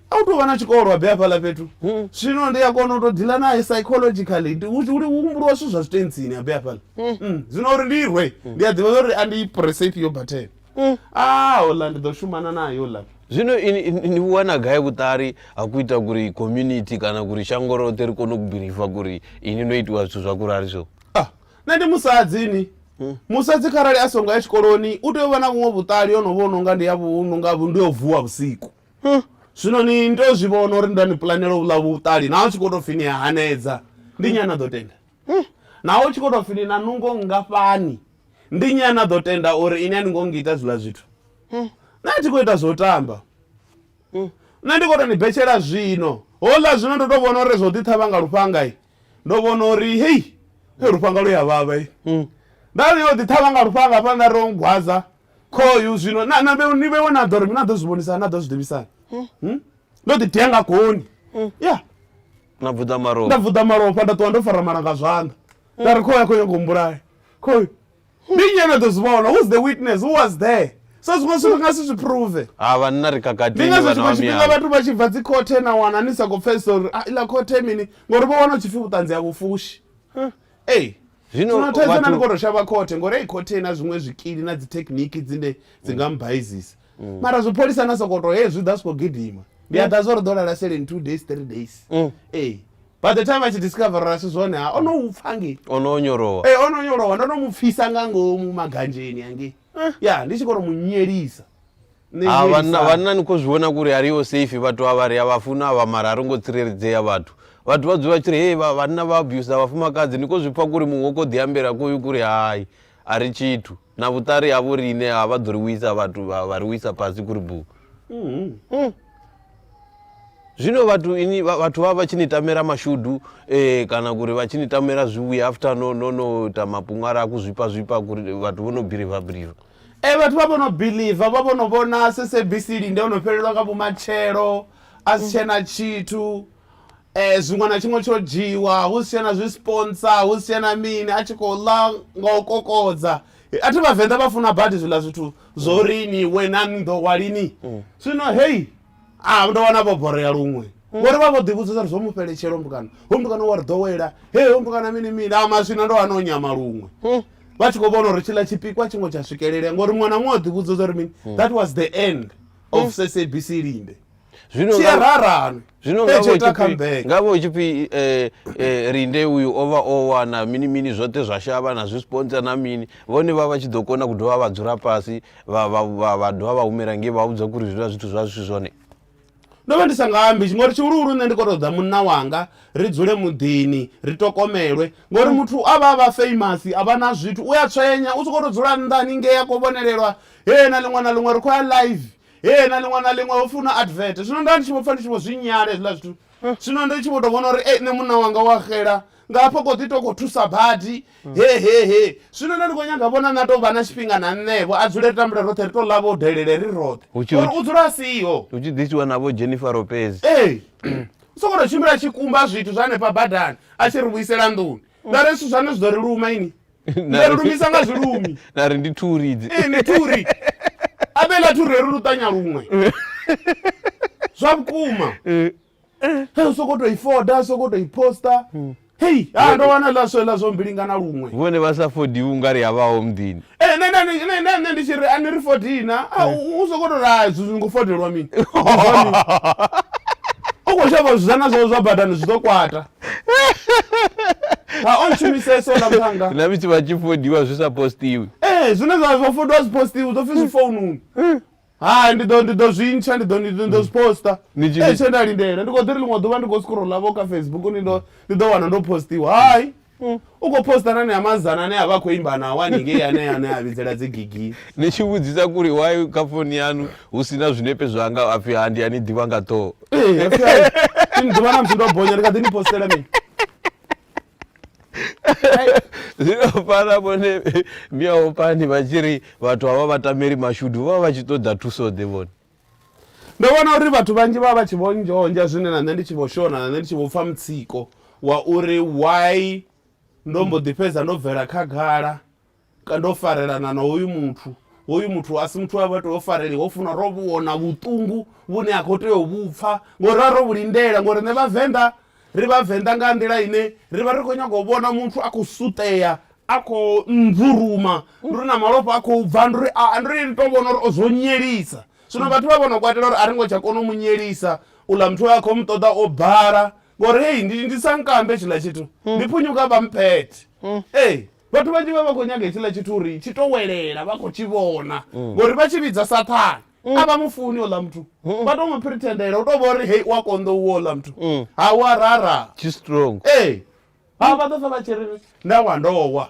A: a u tou vha na tshikolwa be hafhaḽa fhethu hmm. zwino ndi a kona u tou ḓila naye psychologically humbuliwa zwithu zwa zwitentsini a be hafhaḽa hmm. hmm. zwino uri ndi rwe ndi a ḓivha uri a ndi prese ifhio bathene a ola ndi ḓo shumana nayo la zwino ni vhuwana gai vhuṱali ha ku ita kuri community kana kuri shango roṱhe ri kone u bilifa kuri ini no itiwa zwithu zwa kurali so ah, nṋe ndi musadzini musadzi kharali a songo ya tshikoloni u tea u vha na vhuṅwe vhuṱali yo no vha o no nga ndi ya vhunonga ndi yo vuwa vhusiku Huh. zwino ni ni tou zwi vhona uri nda ni pulanela u ḽa vhuṱali naho tshi khou tou pfi ni a hanedza ndi nyana ḓo tenda naho tshi khou tou pfi ni na nungo nngafhani ndi nyana ḓo tenda uri ini a ni ngo ngita zwiḽa zwithu nṋe a thi khou ita zwo tamba nṋe ndi khou tou ni betshela zwino hola zwino ndo tou vhona uri zwo ḓi ṱhavha nga lufhanga i ndo vhona uri hei lufhanga lu ya vhavha i nda ri yo ḓi ṱhavha nga lufhanga hafha nda ri o ngwaza khoyu zwino na- na vhe- ni vhewe na ḓo ri mi na ḓo zwi vhonisa na ḓo zwi ḓivhisana Hmm? ndo ḓi tea nga goni ya na bvuḓa nda maroba vuḓa malofha nda ṱuwa ndo fara malanga zwanḓa nda ri khoyu a khou nyanga u mbulaya khoyu ndi nnyi ane ḓo zwi vhona who's the witness who was there so zwiṅwe zwithu nga si zwi prove ha vhanna ri ndi kakatini ngazwo vhana tshiṅwe wa tshifhinga miyalo vhathu vha tshi bva dzi khothe na wana ni sa khou pfesesa uri ah, iḽa khothe mini ngori vho wana u tshi pfi vhuṱanzi ha vhufushi Ee. Zwino Zwino thaidzo vhathu- na ndi koto shavha khothe ngori ei khothe ina zwiṅwe zwikili na dzi thekhiniki dzine dzi nga mbaizisa mara zwipholisa na sokoto he zwi ḓa swiko gidima ndi a ḓa zwo ri ḓo lala seleni two days three days ee by the time a tshi discoverera asi zwone ha o no u pfa ngei o no onyolowa ee o no nyolowa ndo no mu pfisa nga ngomu maganzheni angei ya ndi tshi koro mu nyelisa Nṋe Ha, vhanna Yelisani. vhanna ni khou zwi vhona kuri a ri ho safe vhathu avha ri a vha funa avha mara a ro ngo tsireledzea vhathu vhathu vha dzula tshi ri hei vha- vhanna vha abuser vhafumakadzi ni khou zwi pfa kuri muṅwe u khou ḓi ambela kuyu kuri hai a ri tshithu na vhuṱari havho riṋe ha vha ḓo ri wisa vhathu vha vha ri wisa fhasi kuri bu Mhm. Mm. zwino vhathu ini vha- vhathu vha vha tshi ni tamela mashudu eh, kana kuri vha tshi ni tamela zwivhuya after no no no ita mapunga ra ku zwipa zwipa kuri vhathu vho no biliva biliva Ee vhathu vha vhono biḽiva vha vhono vhona SABC linde ono fhelelwa nga vhumatshelo a si tshena tshithu eh zwiṅwe na tshiṅwe tsho dzhiwa hu si tshena zwi sponsor hu si tshena mini a tshi khou ḽa nga u kokodza a thi vhavenḓa vha funa badi zwiḽa zwithu zwo ri ni we na ni ḓo wa lini zwino heyi a ah, ndo wana vho borea luṅwe mm. ngori vha vho ḓivhudzisa ri zwo mu fheletshela hombukana hombukana wa ri ḓowela he hombukana mini mini a ah, maswina ndo wana o nyama luṅwe mm. vha tshi khou vhona uri tshiḽa tshipikwa tshiṅwe tsha swikelelea ngori muṅwe na muṅwe o ḓivhudzisa uri mini mm. that was the end of sabc linde tshiararani nga vho tshi pfi eh, eh, rinde uyu o vha o wana mini mini zwoṱhe zwa shavha na zwi sponsa na mini vhone vha vha tshi ḓo kona ku dovha vha dzula fhasi vha vha vha vha dovha vha humela ngei vha vhudza kuri zwiḽa zwithu zwa zwi zwone ndo vha ndi sa nga ambi ngori tshihuluhulu nṋe ndi khou ṱoḓa munna wanga ri dzule muḓini ri tokomelwe ngori muthu a vha a vha famous a vha na zwithu u a tswenya u sokou tou dzula nnḓa haningei a khou vhonelelwa hee na ḽiṅwe na ḽiṅwe ri khou ya live hee na ḽiṅwe na ḽiṅwe hopfi hu na advert zwino nda ndi tshi vho pfha ndi tshi vho zwi nyala hezwiḽa zwithu zwino ndi tshi vho to vhona uri e nṋe munna wanga wa xela nga hafho kho ḓi to khou thusa badi hehehe zwino nda ndi khou nyaga vhona na tou vha na tshifhinga na nṋevho a dzule ri tambule roṱhe ri to ḽa vho delele ri roṱhe uri u dzula a siho hu tshi ḓisiwa na vho Jennifer Lopez ee u soko to tshimbila tshikumba zwithu zwa hanefha badani a tshi ri vhuisela nḓuni ngari zwithu zwane zwi ḓo ri luma ini na ri lumisa nga zwilumi na ri ndi thuri idzi ee ndi thuri abela thuri ri luṱanya luṅwe zwa vhukuma eh. he u sokou tou i foda u sokou tou i posta hmm. hei ha ndo wana ḽa swe ḽa zwo mbilingana luṅwe vhone vha sa fodiwi unga ri havhaho muḓini ee eh, nṋe ndi tshi ri a ni ri fodina hmm. u sokou tou ra zwingo fodelwa mini u khou shavha zwizana zwao zwa badani zwi ḓo kwata ha o shumiseso na muthanga na misi vha tshi fodiwa zwi sa postiwi ee eh, zwine zwa zwa fodiwa zwi postiwi zwo pfi zwi foununi eh. hai ndi ḓo ndi ḓo zwi ntsha ndi ḓo ndi ḓo zwi posta ee eh, tshe nda lindela ndi khou ḓi ri ḽiṅwe ḓuvha ndi khou scrolla vho kha facebook ndi ndo ndi ḓo wana ndo postiwa hai mm. U khou poster na anea mazana ane a vha a khou imba nao haningei anea ane a vhidzela dzi gigini. Ni tshi vhudzisa kuri why kha foni yanu hu si na zwinepe zwanga a pfi ha ndi a ni ḓivha nga ṱhoho. Ee, ha pfi hai, ni ni ḓivha na musi ndo bonya ni kha ḓi ni postela mini? Zwino fhaḽa vhone miyaopani vha tshi ri vhathu havha vha tameli mashudu vha vha vha tshi ṱoḓa thuso-ḓe vhone? Ndo vhona uri vhathu vhanzhi vha vha vha tshi vho nzhonzha zwine na nṋe ndi tshi vho shona na nṋe ndi tshi vho pfa mutsiko wa uri why ndo mbo ḓi fhedza ndo bvela khagala ka ndo farelana na hoyu muthu hoyu muthu a si muthu a vha tea u fareliwa ho funa ro vhona vhuṱungu vhune a khou tea u vhupfa ngori ra ro vhu lindela ngori nṋe vhavenḓa Ri Vhavenḓa nga nḓila ine ri vha ri khou nyaga u vhona muthu a khou suṱea, a khou nzuruma, ndi uri na malofha a khou bva, ndi uri a, ndi uri ri tou vhona uri o zwo nyelisa. Zwino vhathu vha vha vho no kwatela uri a ri ngo tsha kona u mu nyelisa, uḽa muthu we a khou mu ṱoḓa o bala ngori hei ndi, ndi sa nkambe hetshiḽa tshithu, ndi phunyuka vha mphethe. Ee, vhathu vhanzhi vha vha vha khou nyaga hetshiḽa tshithu uri tshi tou welela vha khou tshi vhona ngori vha tshi vhidza Saṱhane. Mm. a vha mu funi ola muthu mm. vha to mu pretendela u to vha uri hei u a konḓa u ola muthu mm. ha u a rara tshi strong ee ha vha ḓo sa vha tshi ri nda wa ndowa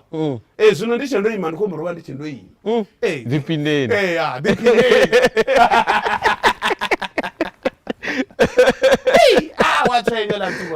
A: ee zwino ndi tshe ndo ima ndi khou muruvha ndi tshe ndo ima ee ḓiphineni ee a ḓiphineni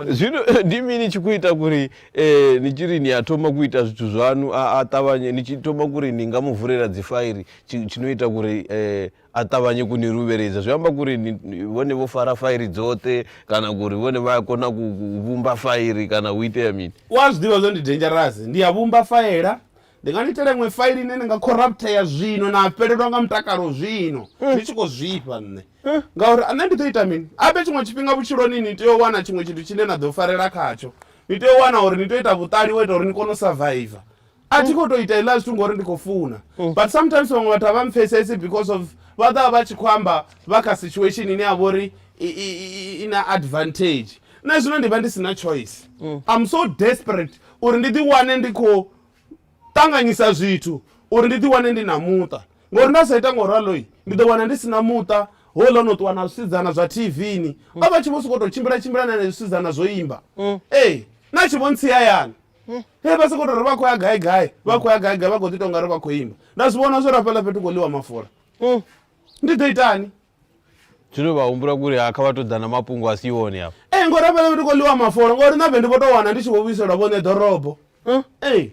A: zvino eh, ndi mini chikuita kuri eh, ni chiri ni atoma kuita zvitu zvanu atavanye ni chitoma kuri ni nga muvhurera dzifairi tshinoita kuri eh, a ṱavhanye ku ni ruveledza zwi amba kuri vhone vho fara fairi dzoṱhe kana kuri vhone vha a kona ku vhumba fairi kana hu itea mini u a zwi ḓivha zwo ndi dangerous ndi a vhumba faela ndi nga ni itela iṅwe faili ine ni nga corruptea zwino na fhelelwa nga mutakalo zwino mm. ni tshi khou zwifha nṋe mm. ngauri nṋe ndi ḓo ita mini abe tshiṅwe tshifhinga vhutshiloni ni tea u wana tshiṅwe tshithu tshine na ḓo farela khatsho ni tea u wana uri ni tea u ita vhuṱali wo ita uri ni kone u surviva a thi khou tou ita iḽa zwithu ngori ndi khou funa mm. but sometimes vhaṅwe vhathu a vha mpfesesi because of vha ḓovha vha tshi khou amba vha kha situation ine ya vha uri i na advantage nṋe zwino ndi vha ndi si na choice mm. im so desperate uri ndi ḓiwane ndi khou ṱanganyisa zwithu uri ndi ḓiwane ndi na muṱa ngori nda sa ita ngo raloi ndi ḓo wana ndi si na muṱa hola no ṱuwa na zwisidzana zwa tvni mm. a vha tshi vho sokou tou tshimbila tshimbila na ne zwisidzana zwo imba mm. ee na tshi vho ntsi hayani eh. he vha sokou tori vha khou ya gai gai vha khou ya gai gai vha khou ḓi tou ngari vha khou ima nda zwi vhona zwo rafhaḽa fhethu khou ḽiwa mafula mm. ndi ḓo itani zwino vha humbula kuri ha kha vha tou ḓa na mafhungo a si one afho ee eh, ngori rafhaḽa fhethu khou ḽiwa mafola ngori na vhe ndi vho tou wana ndi tshi vho vhuiselwa vhone ḓorobo mm. ee eh.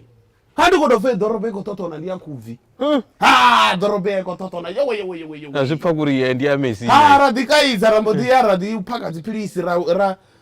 A: ha ndi khou tou fe ḓorobo i khou ṱoṱona ndi ya khubvi mm. ha ḓorobo ya i khou ṱoṱona yewe yewe yewe yewe zwi pfa kuri ndi ya messi ha ra ḓi kaidza ra mbo ḓi ya ra ḓi phaka dziphilisi ra ra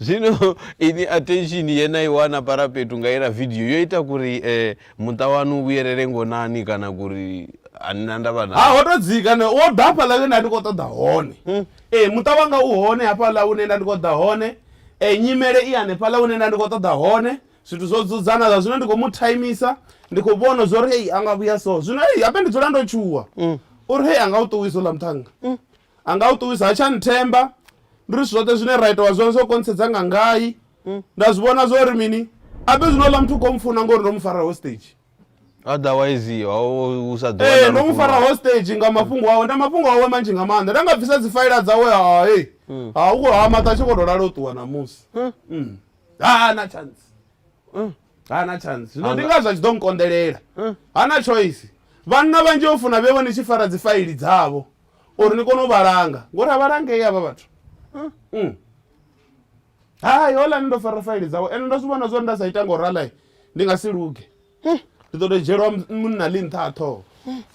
A: zvino ini attention yena iwana parapetu ngaira video yoita kuri eh, muta wanu vuyerere ngonani kana kuri anina ndava na ha wotodzika ne wo da hafhala yo nda ndi khou ṱoḓa hone hmm. ee eh, muṱa wanga u hone hafhala une nda ndi khou ḓa hone um eh, nyimele i hanefhala une nda ndi khou ṱoḓa hone zwithu zwo dzudzana zwa zwino ndi khou mu timisa ndi khou vhona zwo ri hei a nga vhuya so zwino hei hape ndi dzula ndo tshuwa hmm. uri hei a nga u ṱuwisa u ḽa muṱhanga hmm. a nga u ṱuwisa ha tsha nthemba ndi ri zwithu zwoṱhe zwine ra itiwa zwone zwo kontsedza nga ngai mm. nda zwi vhona zwo ri mini abe zwino ḽa muthu kho mfuna ngori ndo mu fara hostage otherwise u sa ḓoee eh, ndo mu fara hostage nga mafhungo awe nda mafhungo awe manzhi nga maanḓa nda nga bvisa dzi faila dzawe hae mm. ha u ha maṱa tshi kho to lala u ṱuwa namusi ha mm. na chance ha na chance zwino ndi ngazwo a tshi ḓo nkonḓelela ha na choice vhanna vhanzhi o funa vhe vho ni tshi fara dzi faili dzavho uri ni kone u vha langa ngori a vha langei havha vhathu mm. hai holani ndo fara faili dzawe ende ndo zwi vhona zwori nda sa ita ngo ralai ndi nga si luge ndi ḓo to dzhielwa munna ḽi nṱha a ṱhoho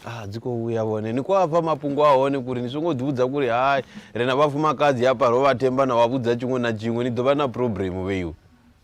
A: ah dzi khou vhuya vhone ni khou afha mafhungo a hone kuri ni songo ḓivhudza kuri hai ri na vhafumakadzi hafha ro vha themba na wa vhudza tshiṅwe na tshiṅwe ni ḓo vha na problem vheiwe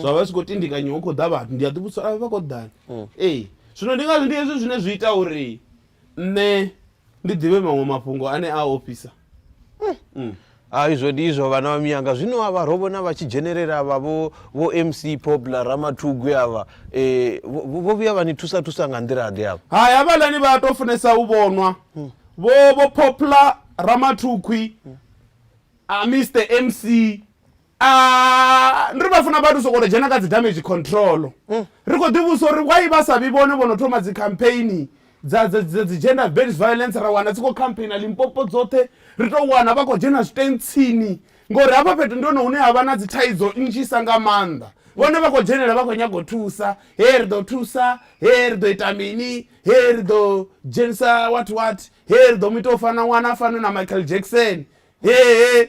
A: zwa vha zwi khou tindikanyiwa hu khou ḓa vhathu ndi a ḓi vhudzisa uri vha khou ḓani ee zwino ndi ngazwo ndi hezwi zwine zwi ita uri nṋe ndi ḓivhe maṅwe mafhungo ane a ofhisa mm. hai zwo ndi izwo vhana vha miyanga zwino avha ro vhona vha tshi dzhenelela vha vho vho mc popular ramathugwi avha eh, vho vho- vho vhuya vha ni thusa thusa nga nḓila ḓe avha hai havhalani vha to funesa u vhonwa vho vho poplar ramathukhwi a mr mc Ah, ndi ri vha funa vhathu sokoto dzhena kha dzi damage control mm. ri khou ḓivhusa uri wai vha sa vhi vhone vho no thoma dzi campaign dza dzi gender based violence ra wana dzi khou campaigna limpopo dzoṱhe ri tou wana vha khou dzhena zwitentsini ngori hafha fhethu ndi hone hune ha vha na dzi thaidzo nnzhisa nga maanḓa vhone vha khou dzhenela vha khou nyaga u thusa he ri ḓo thusa he ri ḓo ita mini he ri ḓo dzhenisa what what he ri ḓo mu ita u fana ṅwana a fane na michael jackson hehe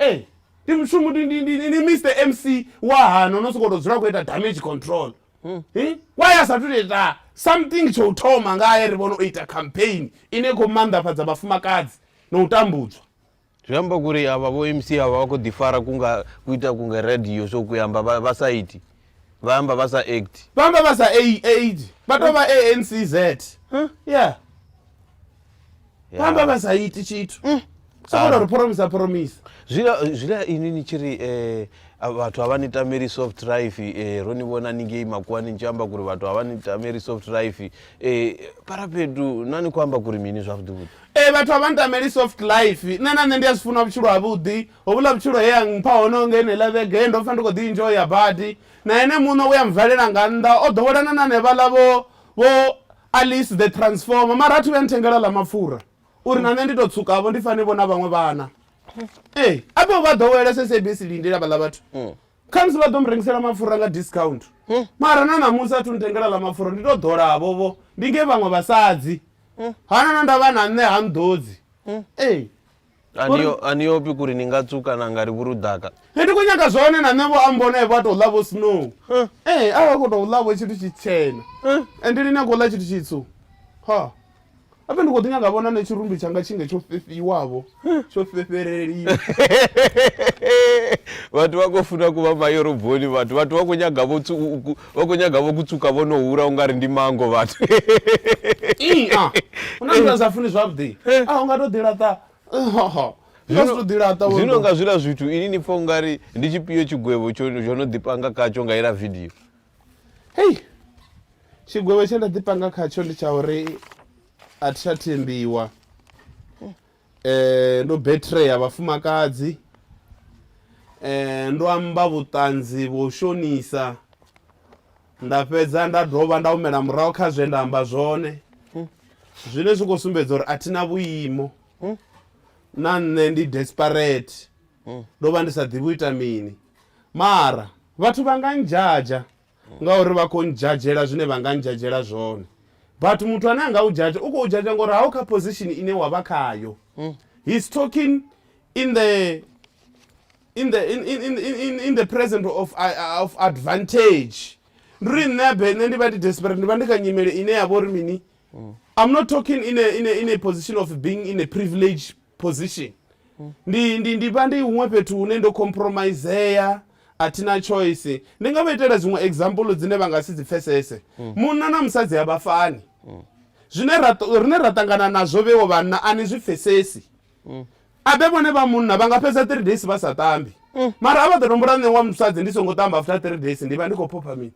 A: Ee ndi mushumo ndi ndi ndi ndi Mister MC wa hano no sokou tou dzula khou ita damage control. Hi why a sathu to ita something tsho u thoma ngae ri vhone o ita campaign ine i khou maanḓafhadza vhafumakadzi na u tambudzwa. Zwi amba kuri avha vho MC avha vha khou ḓi fara ku nga ku ita ku nga radio so ku amba vha vha sa iti vha amba vha sa act. Vha amba vha sa aid vha tou vha ANCZ yeah. vha amba vha sa iti tshithu mm. sokono ri phoromisa phoromisa zwila ini ni tshi ri eh, um vhathu havha ni tameli soft life um eh, ro ni vhona ningei makuwani ni tshi amba kuri vhathu havha ni tameli soft life um eh, parapedu na ni khou amba kuri mini zwavhuḓivhuḓi e vhathu havha ni tameli soft life nṋe na nṋe ndi a zwi funa vhutshilo havhuḓi hovhula vhutshilo he ya mpha hono nge ne la vhege ndo pfa ndi khou ḓi injo ya badi na ene muṋo u ya mvalela nga nnḓa o ḓowelana na nevhaḽa vho vho Alice the transformer mara athu vhe nthengela ḽa mapfura uri na nṋe ndi to tsukavho ndi fane vho na vhaṅwe vhana ee a vhe vha ḓowela sabc lindela vhaḽa vhathu mm. khamusi vha ḓo mu rengisela mapfura nga discount mm. mara na ṋamusi athu nthengela ḽa mapfura ndi to ḓolavo vho ndi nge vhaṅwe vhasadzi mm. hana na ndavha na nṋe ha nḓodzi ee Aniyo- aniyopi kuri ni nga tsuka na nga ri vhurudaka He ndi khou nyaga zwone na nṋe vho ambona vha tou ḽa vho snow ee a vha khou tou ḽa vho tshithu tshitshena ende lini a khou ḽa tshithu tshitsu ha ape ndi khou ḓi nyaga vhona ne tshirumbi tshanga tshinge tsho fhefhiwavho tsho fhefheleliwa vhathu vha khou funa ku vha mayoroboni vhathu vhathu vha khou nyaga vho tsu- u- ku- Vha khou nyaga vho kutsuka vho no hura u nga ri ndi mango vhathu. Ii, a, hu na zwine a sa funi zwavhuḓi. A, u nga tou ḓilaṱa. Hoho. Zwino nga zwiḽa zwithu ini ni pfa u nga ri ndi tshipio tshigwevho tsho no ḓipanga khatsho nga ila vidio hei tshigwevho tshe nda ḓipanga khatsho ndi tsha uri a thi tsha thembiwa Eh, ndo betreya vhafumakadzi eh, ndo amba vhuṱanzi vho shonisa nda fhedza nda dovha nda humela murahu kha zwe nda amba zwone zwine zwi khou sumbedza uri a thi na vhuimo na nṋe ndi desperate ndo vha ndi sa ḓivhi u ita mini mara vhathu vha nga ndzhadzha ngauri vha khou ndzhadzhela zwine vha nga ndzhadzhela zwone but muthu ane a nga u dzhadzha u khou dzhadzha ngori hau kha position ine wa vha khayo mm. he's talking in the in the in, in, in, in the present of, uh, uh, of advantage ndi ri nṋe abe nṋe ndi vha ndi desperate ndi vha ndi kha nyimele ine ya vha uri mini mm. i'm not talking in a, in, a, in a position of being in a privilege position ndi ndi ndi vha ndi huṅwe fhethu hune ndo compromisea a thina choice ndi nga vha itela zwiṅwe example dzine vha nga si dzi pfesese munna na musadzi a vha fani zwine ra ṱo- rine ra ṱangana nazwo vhewo vhanna a ni zwi pfesesi abe vhone vha munna vha nga fhedza 3 days vha sa tambi mara a vha ḓo nombora nṋe wa musadzi ndi songo tamba after 3 days ndi vha ndi khou phopha mini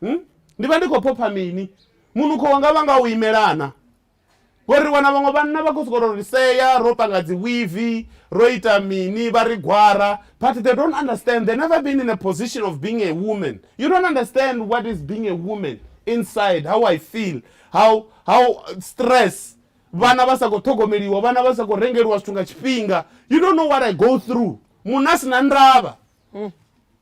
A: Hmm? ndi vha ndi khou phopha mini munukho wanga vha nga u imelana Ngori ri wana vhaṅwe vhanna vha khou sokou tou ri sea ro panga dzi wivi, ro ita mini, vha ri gwara, but they don't understand, they never been in a position of being a woman, you don't understand what is being a woman inside, how I feel, how, how stress, vhana vha sa khou ṱhogomeliwa, vhana vha sa khou rengeliwa zwithu nga tshifhinga, you don't know what I go through, munna a si na ndavha.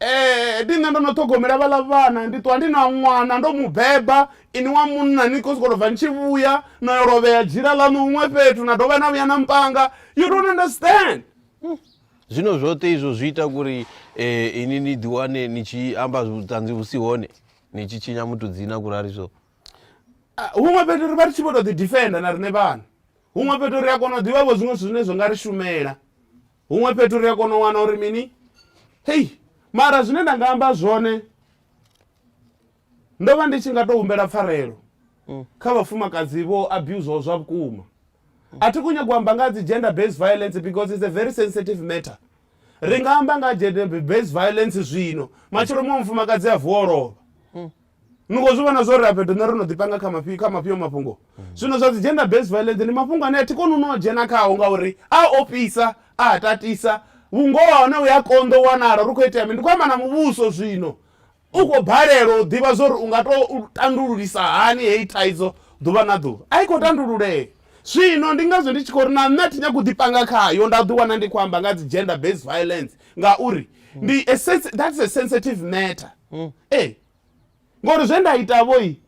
A: Ee, ndi nṋe ndo no ṱhogomela vhaḽa vhana, ndi ṱuwa ndi na ṅwana ndo mu beba, inwi wa munna ni khou sokou tou bva ni tshi vhuya no yo lovhea dzhila ḽaṋu huṅwe fhethu na dovha na vhuya na mpanga, you don't understand. Zwino zwoṱhe izwo zwi ita uri eh, ini ni ḓiwane ni tshi amba vhuṱanzi vhu si hone ni tshi tshinya muthu dzina kurali so Ah, huṅwe fhethu ri vha ri tshi vho tou ḓidifenda na riṋe vhana huṅwe fhethu ri a kona u ḓivha vho zwiṅwe zwithu zwine zwi nga ri shumela Huṅwe fhethu ri a kona u wana uri mini? Hei, mara zwine nda nga amba zwone, ndo vha ndi tshi nga tou humbela pfarelo mm. kha vhafumakadzi vho abuzwaho zwa vhukuma. A thi khou nyagwa amba nga dzi gender based violence because it's a very sensitive matter. Ri nga amba nga gender based violence zwino, matshelo muṅwe mufumakadzi a vuwa o lovha. ni khou zwi vhona zwo ri afhetho nṋe ro no ḓipanga kha mafhi kha mafhio mafhungo zwino zwa dzi gender based violence ndi mafhungo ane a thi koni u no dzhena khao ngauri a ofhisa a tatisa vhungoho ha hone u ya konḓa u wanala ri khou itea mini ndi khou amba na muvhuso zwino u khou balelwa u ḓivha zwa uri u nga to tandululisa hani heyi thaidzo ḓuvha na ḓuvha a i khou tandululea Zwino ndi ngazwo ndi tshi khou ri na nṋe a thi nyagi u ḓi panga khayo nda ḓi wana ndi khou amba nga ha dzi gender based violence ngauri ndi a sensi-, that's a sensitive matter ee ngori zwe nda ita vho i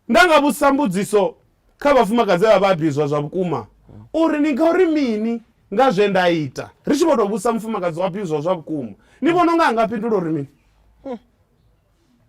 A: nda nga vhudzisa mbudziso kha vhafumakadzi vha vha abuzwa zwa vhukuma uri ni nga uri mini nga zwe nda ita ri tshi vho tou vhudzisa mufumakadzi wa abuzwa zwa vhukuma ni vhona unga a nga fhindula uri mini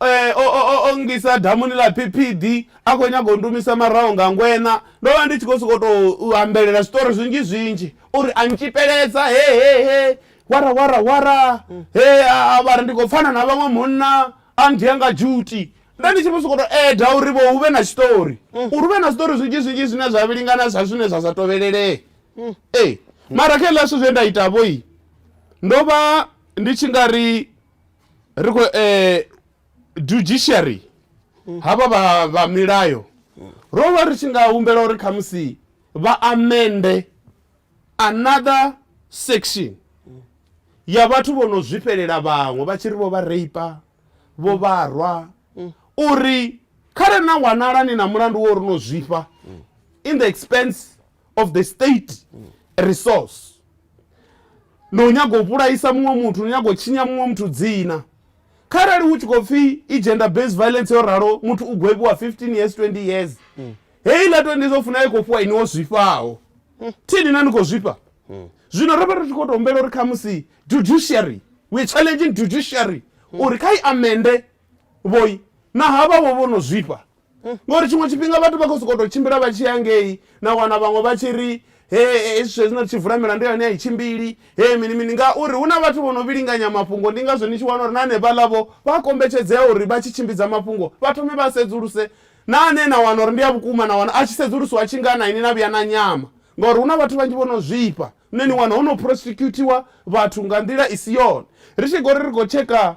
A: Ee, o, o, o, o nngisa damuni ḽa phiphidi, a khou nyaga u ndumisa maraho nga ngweṋa. Ndo vha ndi tshi khou sokou tou ambelela zwiṱori zwinzhi-zwinzhi uri a ntshipeledza, he, he, he, wara, wara, wara, he a, a vha ri ndi khou pfana na vhaṅwe munna, a ndia nga dzhuti. Nda ndi tshi vho sokou tou eda uri vho hu vhe na tshiṱori, uri hu vhe na zwiṱori zwinzhi-zwinzhi zwine zwa vhilingana zwa zwine zwa sa tovhelelea. Ee, mara kha hezwiḽa zwithu zwe nda ita-vho, ndo vha ndi tshi nga ri. ri khou eh, judiciary havha vha vha milayo ro vha ri tshi nga humbela uri khamusi vha amende another section ya vhathu vho no zwifhelela vhaṅwe vha tshi ri vho vha reipa vho vharwa uri khare na wanala ni na mulandu wo ri no zwifha in the expense of the state resource no nyaga u vhulaisa muṅwe muthu no nyaga u tshinya muṅwe muthu dzina kharali hu tshi khou pfhi i gender based violence yo ralo muthu u gwevhiwa 15 years 20 years mm. heyi ḽa 20 years o funa i khou fhiwa iniwo zwifhaho mm. thini na ni khou zwifha mm. zwino ro vha ri tshi khou tou humbela uri khamusi judiciary weare challenging judiciary mm. uri kha i amende vhoi na havha vho vho no zwifha mm. ngori tshiṅwe tshifhinga vhathu vha khou sokou tou tshimbila vha tshi ya ngei na wana vhaṅwe vha tshi ri he hezwi zwe zwino ri tshi vula milandu yone a i tshimbili he mini mini ngauri hu na vhathu vho no vhilinganya mafhungo ndi ngazwo ni tshi wana uri na hanefhaḽavho vha kombetshedzea uri vha tshi tshimbidza mafhungo vha thome vha sedzuluse na ane na wana uri ndi a vhukuma na wana a tshi sedzulusiwa a tshi nga na ini na vhuya na nyama ngauri hu na vhathu vhanzhi vho no zwifha nṋe ni wana ho no prosecutiwa vhathu nga nḓila i si yone ri tshi gori ri khou tsheka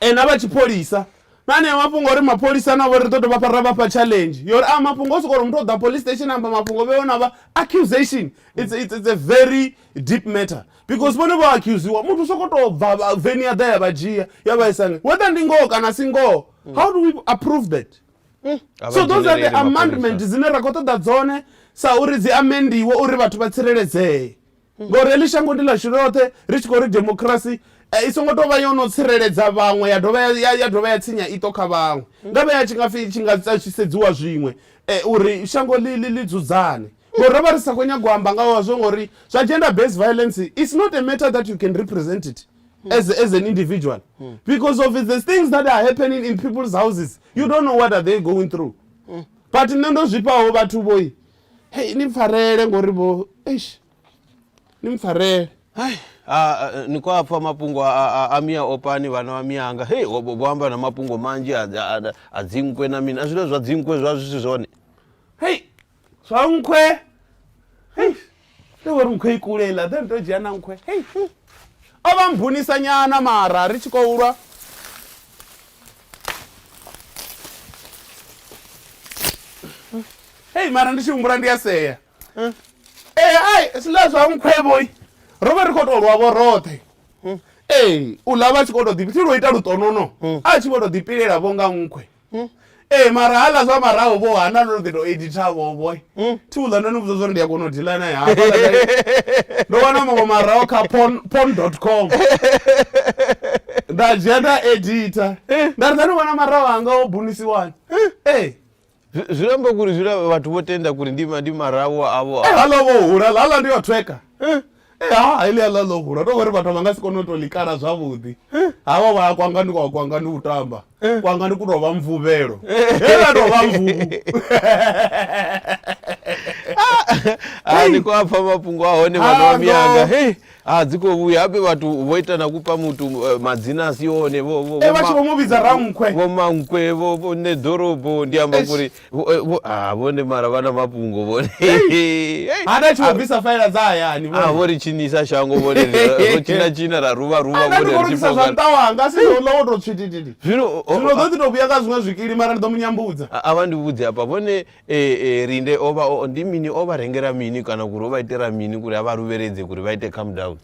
A: E na vha tshipholisa na anea mafhungo uri mapholisa navho ri ḓo dovha fha ra vha fha challenge yori a mafhungo o sokou uri muthu o ḓa police station amba mafhungo vheo na vha accusation it's, it's, it's a very deep matter because vhone vho accusiwa muthu sokou tou bva veni ya ḓa ya vha dzhia ya vha isa whether ndi ngoho kana si ngoho how do we approve that mm. so those are the amendment dzine ra khou ṱoḓa dzone sa uri dzi amendiwe uri vhathu vha tsireledzee ngori heḽi shango ndi ḽashu ḽoṱhe ri tshi khou ri demokirasi eh, i songo tou vha yo no tsireledza vhaṅwe ya dovha ya dovha ya tsinya iṱo kha vhaṅwe nga vhe ya tshi nga pfhi tshi nga tshi sedziwa zwiṅwe eh, uri shango ḽi ḽi ḽi dzudzane ngori ro vha ri sa khou nyaga u amba nga wazwo ngori zwa gender based violence it's not a matter that you can represent it as, as an individual because of the things that are happening in people's houses you don't know what are they going through but nṋe ndo zwifhaho vhathu vhoi Hei ni mpfarele ngori vho eish ni mpfarele. Hai a ni khou a pfha mafhungo a mia opani vhana vha mianga hei vho amba na mafhungo manzhi a dzinkwe na mini a zwine zwa dzinkwe zwa zwi si zwone hei zwa nkhwe hei ndo vho ri nkhwe i kule iḽa then ndo dzhia na nkhwe hei o vha mbunisanyana mara ri tshi khou lwa hei mara ndi tshi humbula ndi a sea ee eh, ai zwiḽa zwa nkhwevhoi ro vha ri khou tou lwavho roṱhe hmm. ee u ḽa vha tshi khou tou ḓipi thi lwo ita lutonono hmm. a tshi vho tou ḓipilela vho nga nkhwe hmm. ee mara ha ḽa zwa maraho vho hana ndo ḓi tou editha vhoboy hmm? thi uḽa ndo ni vhudza zwori ndi a kona u dila naye hafha ndo wana maṅwe maraho kha pon pon dot com nda dzhia nda edita eh. nda ri nda ni vhona maraho anga o bunisiwani eh. ee zwi amba kuri zwi vhathu vho tenda kuri ndi ndi marawo avo eh, hala vho hula hala ndi o tweka Eh, ha heḽia ḽa ḽo hula to vhori vhathu vha nga si kone u to ḽikala zwavhuḓi havha vha ya kwanga ndi kwa kwanga ndi u tamba kwanga ndi ku tovha mvuvhelo he la tovha mvuvu a ni kwa pfa mafhungo a hone vhana vha miyanga he a dzi khou vhuya habe vhathu vho ita na kupa muthu eh, madzina a si one vho vho- vho eh, vha tshi ma- vho mu vhidza rankhwe vho mankwe vho vho nṋe ḓorobo ndi amba Eish. kuri Vho- eh, vho- ah, vhone mara vha na mafhungo vhone Hey! ha na tshiwo bvisa faela dza hayani Ah, vho ri tshinisa shango vhone ri- ro tshina tshina ra ruvha ruvha vhone ri tshi aaaisa zwa fhonga nṱa wanga si zwo ḽa wo tou tswitititi zwino o- o- zwino ḓo ḓi tou vhuya nga zwiṅwe zwikili mara ndi ḓo mu nyambudza a- a vha ndi vhudze hafha vhone eh, eh, rinde o vha o- ndi mini o vha rengela mini kana kuri o vha itela mini kuri a vha luvheledze kuri vha ite calm down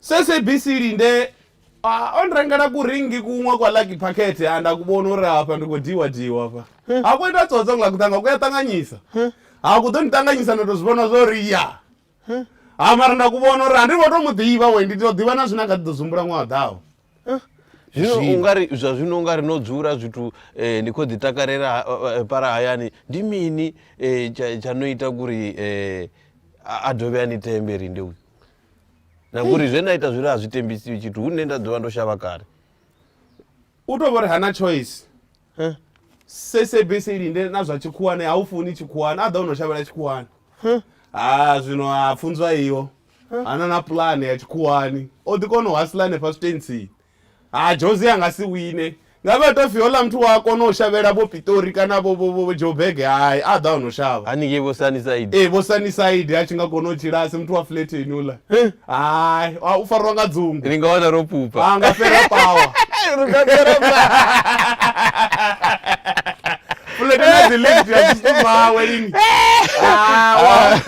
A: SABC Linde a o nrengela kuringi kuṅwe kwa Lucky Packet a nda ku vhona uri hafha ndi khou diwa diwa hafha ha ku ita tsotso nga kuṱanga ku ya ṱanganyisa ha ku ḓo ni ṱanganyisa nda tou zwi vhona zwo ri ya ha mara nda ku vhona uri a ndi ngo tou mu ḓivha we ndi tou ḓivha na zwine a kha ḓi ḓo zumbula ṅwaha ḓaho zwino Zwino. ungari zwa zwino ungari no dzula zwithu eh, ni khou ḓi takalela ha- eh, eh, para hayani ndi mini eh, tsha tsha no ita kuri eh, a a dovhe a ni tembe rinde uyu na ngori zwe nda ita zwine a zwi tembisiwi tshithu hu nne nda dzula ndo shavha kale u tou vha uri hana choice sabc linde na zwa tshikhuwane ha u funi tshikhuwane a ḓa u no shavhela tshikhuwane ha zwino ha pfunzwa iyo ana na pulane ya tshikhuwani o ḓi kona u hasila hanefha switentsini Ha Jose a nga si wine. Ngavhe ha tou pfi houḽa muthu wa a kona u shavhela vho Pitori kana vho vho vho Joburg hai a ḓa o no shavha. Haningei vho Sunnyside. Ee vho Sunnyside a tshi nga kona u tshila a si muthu wa flatheni houḽa. Hai u farwa nga dzungu. Ni nga wana ro pupa. A nga fhera power. Ri nga fhera power. fulete na dzi lift ya zwithu zwawe lini Ah, wa-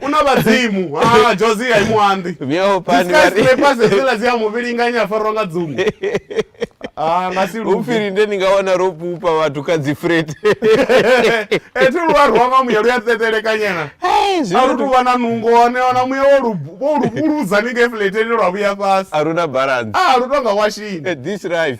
A: una vhadzimu Ah, jozi ya imuanḓi Myaho pani vha ri- dzikasipasesela dzi ya muvhilinganya a farwa nga dzungu Ah, nga si lufu upfiri nde ni nga wana ro pupa vhathu kha dzi frete ethi lu a rwa nga muya lu ya tetelekanyena a lu tu vha na nungo hone ona muya wo lu- wo lu vhuludza ni nge fuleteni lwa vhuya fhasi aruna balance a lu tonga washini Eh, this life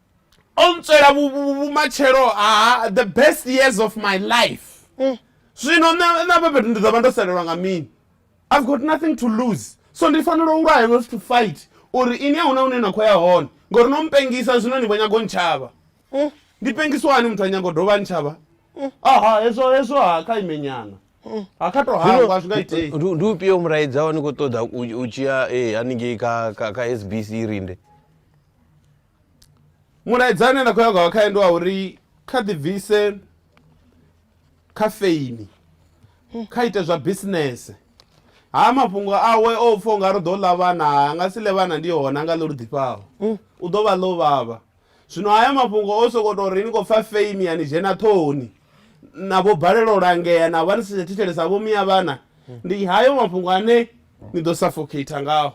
A: o ntswela vhumatshelo ha the best years of my life mm. zwino na bebe ndi ḓo vha ndo salelwa nga mini i've got nothing to lose so ndi fanela u lwaya not to fight uri ini a huna hune na khou ya hone ngori no mpengisa zwino ni vho nyago ntshava mm. ndi pengiswa hani muthu a nyago dovha ntshava mm. aha hezwo hezwo ha kha imenyana ndi upio muraidzao ni khou ṱoḓa u tshia eh, haningei kha sbc rinde Mulaedza une nda khou ya nga khae ndi wa uri kha ḓi bvise kha feini kha ite zwa bisinese ha mafhungo awe o pfha unga ri ḓo ḽa vhana a nga si ḽe vhana ndi hone a nga ḽe lu ḓifhaho mm. u ḓo vha ḽo vhavha zwino haya mafhungo o sokou tou ri ni khou pfha feini ya ni dzhena ṱhohoni na vho balelwa u langea na vha ni si tsha thetshelesa vho miya vhana mm. ndi hayo mafhungo ane ni ḓo suffocate ngaho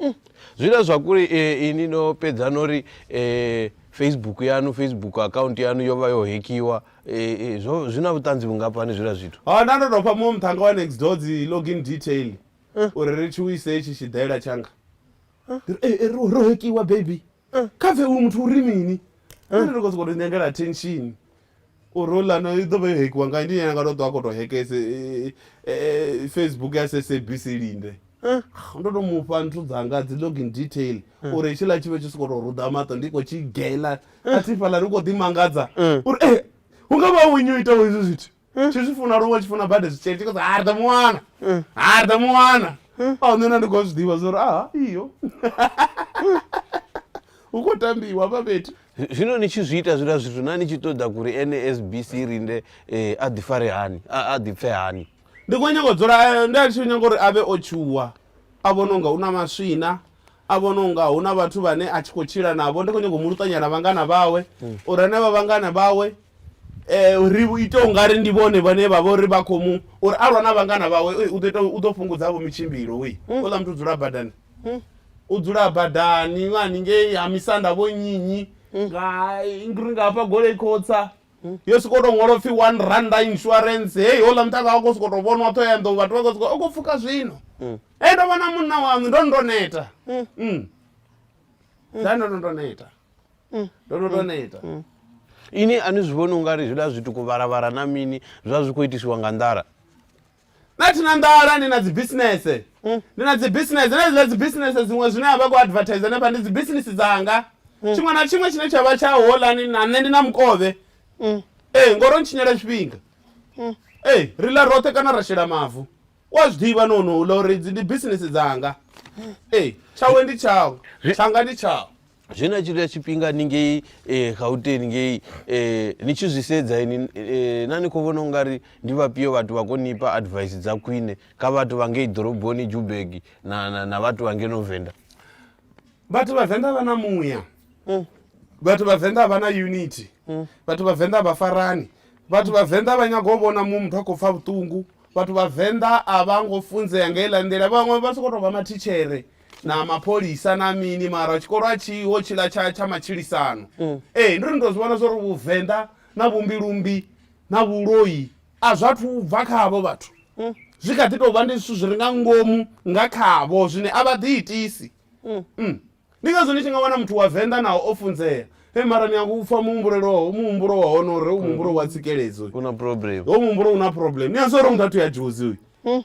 A: Mm. Zwine zwa kuli eh, ini no pedza no ri eh, Facebook yanu Facebook account yanu yo vha yo hekiwa eh, eh, zwo zwi na vhuṱanzi vhungafhani zwila zwithu. Ha na ndo tou fha muṅwe muṱhanga wa next door dzi login detail eh. uri ri tshi wise itshi tshiḓela tshanga. Eh. Eh, eh ro ro hekiwa baby. Eh. Kha pfe uyu muthu uri mini? Eh. Ri khou sokou tou nyangela attention. uri houḽani i ḓo vha yo hekiwa nga ndi ene nga tou ṱwa a khou tou heke facebook ya sabc linde ndo to mufha nthu dzanga dzi login detail uri hetshiḽa tshi vhe tshi sokou tou ruḓa maṱo ndi khou tshi gela a thi fhaḽa ndi khou ḓi mangadza uri e hu nga vha wenyu itaho hezwi zwithu tshi zwi funa luṅwe tshi funa bade zwitshele tshi khou sa ha ri ḓo mu wana ha ri ḓo mu wana a nṋe na ndi khou zwi ḓivha zwa uri aha iyo hu khou tambiwa hafha fhethu Zwino ni tshi zwi ita zwiḽa zwithu na ni tshi ṱoḓa kuri NASBC rinde a ḓi fare hani a ḓi pfe hani. Ndi kho nyaga u dzula nda ndi tshi nyaga uri avhe o tshuwa a vhona unga una maswina a vhona unga huna vhathu vhane a tshi kho tshila navho ndi kho nyaga u mu luṱanya na vhangana vhawe uri hanevha vhangana vhawe ri ite ungari ndi vhone vhane vha vhori vha kho mu uri a lwa na vhangana vhawe u ḓo ita u ḓo fhungudza vho mitshimbilo u ṱoḓa muthu dzula badani. hmm. u dzula badani vha haningei ha misanda vho nyinyi hmm. nga ngri nga hafha golei khotsa hmm. yo soko to ṅwala upfhi one randa insurance heyi hola mutaka wa khou soko to vhonwa ṱho ya nḓou vhathu vha khou soko u khou pfuka zwino e ndo vhona munna waṋu ndo ndo neta da ndo no ndo neta ndo no ndo neta ini a ni zwi vhoni u nga ri zwiḽa zwituku vharavhara na mini zwa zwi khou itisiwa nga nḓala nṋe thina nḓala ndi na dzi bisinese mm. ndi na dzi bisinese na zwiḽa dzi bisinese dziṅwe zwine a vha khou advertise hanefha ndi dzi bisinese dzanga mm. tshiṅwe na tshiṅwe tshine tsha vha tsha holani na nṋe ndi na mukovhe mm. ee ngori o ntshinyela tshifhinga ee ri ḽa roṱhe kana ra shela mavu u a zwi ḓivha nonoula uri dzi ndi bisinese dzanga ee tshawe ndi tshawe tshanga ndi tshawe zwe na tshilula tshifhinga ni ngei eh, gauteni ngei eh, ni tshi zwi sedza ini eh, na ni khou vhona ungari ndi vhafhio vhathu vha konipa advice dza khwine kha vhathu vha ngei ḓoroboni jubeg na, na, na vhathu vha ngeno venda vhathu vhavenḓa vha na muya mm. vhathu vhavenḓa vha na unity mm. vhathu vhavenḓa vha farani vhathu vhavenḓa vha nyaga u vhona muṅwe muthu a khou pfa vhuṱungu vhathu vhavenḓa a vha ngo funzea nga iḽa nḓila vhaṅwe vha sokou tou vha mathitshere na mapholisa na mini mara tshikolo a tshiho tshiḽa tsha tsha matshilisano mm. ee ndo ni to zwi vhona zwa uri vhuvenḓa na vhumbilumbi na vhuloi a zwa thu bva khavho vhathu mm. zwi kha ḓi tou vha ndi zwithu zwi re nga ngomu nga khavho zwine a vha ḓi itisi mm. ndi ngazwo ni tshi nga wana muthu wa venḓa naho o funzea e mara ni yango upfa muhumbuleloho muhumbulo wa hone uri u muhumbulo wa tsikeledzo u na problem ho muhumbulo u na problem ni a zwa uri muthu a thu ya dzhozi uyu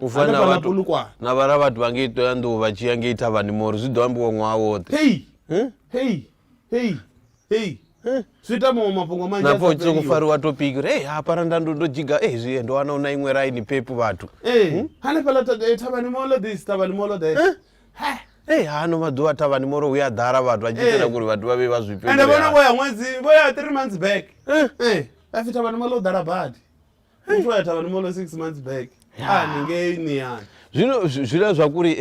A: u fana na vhathu na vhala vhathu vha ngei ṱoya nḓuhu vha tshi ya ngei thavhani mori zwi ḓo ambiwa ṅwaha woṱhe hei hm? hei hei hei hm? zwi ita maṅwe mafhungo manzhi napfa u tshi kufariwa topiki uri ei hapara nda ndo ndo dzhiga ei zwi ndo wana u na iṅwe raini pepu vhathu ee hm? hanefhaḽa eh, thavhani molo this thavhani molo that ei hano maḓuvha thavhani moro hu ya ḓala vhathu vha tshi itela kuri vhathu vha vhe vha zwipende vhona vho ya ṅwedzi vho ya three months back ee a fi thavhani molo u ḓala badi muthu a ya thavhani mono six months back ani ngei ni ani zwino zwi- zwiḽa zwa kuri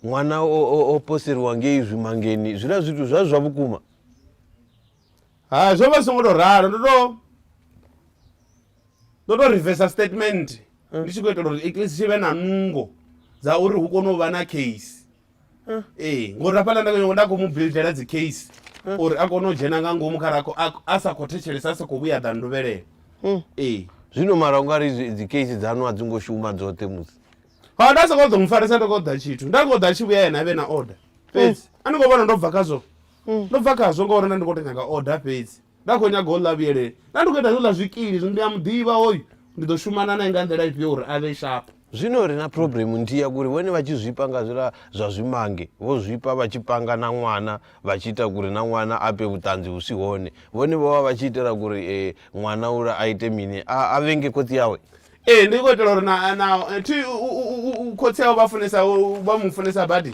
A: um ṅwana o- o o poseriwa ngei zwimangeni zwiḽa zwithu zwa zwa vhukuma ha zwo vha zwi songo tou ralo ndo to ndo to reversa statement ndi tshi khou itela uri at least tshi vhe na nungo dza uri hu kone u vha na case ee ngori hafhaḽa nda nda khou mu buildela dzi case uri a kone u dzhena nga ngomu kha rakho a sa khou thetshelesa a sa khou vhuya ḓa nduvhelele ee zwino mara u nga ri zwi- dzi case dzanu a dzi ngo shuma dzoṱhe musi ha nda sokou ḓo mu farisa nda khou ḓa tshithu nda khou ḓa a tshi vhuya yena a vhe na order fhedzi a ni khou vhona ndo bva khazwo ndo bva khazwo ngauri nda ndi khou to nyaga order fhedzi Nda khou nyaga u ḽa vhuyelele. Nda ndi khou ita zwo ḽa zwikili, zwino ndi a mu ḓivha hoyu. Ndi ḓo shumana nae nga nḓila ifhio uri a vhe shapu? Zwino ri na phuroblemu nthihi ya kuri vhone vha tshi zwifha nga zwiḽa zwa zwimange, vho zwifha vha tshi panga na ṅwana vha tshi ita kuri na ṅwana a fhe vhuṱanzi vhu si hone. Vhone vho vha vha tshi itela kuri ṅwana uḽa a ite mini? A, a vhenge khotsi awe? Ee, ndi khou itela uri na, na, thi, u, u, u, u, khotsi awe vha funesa, vha mu funesa badi.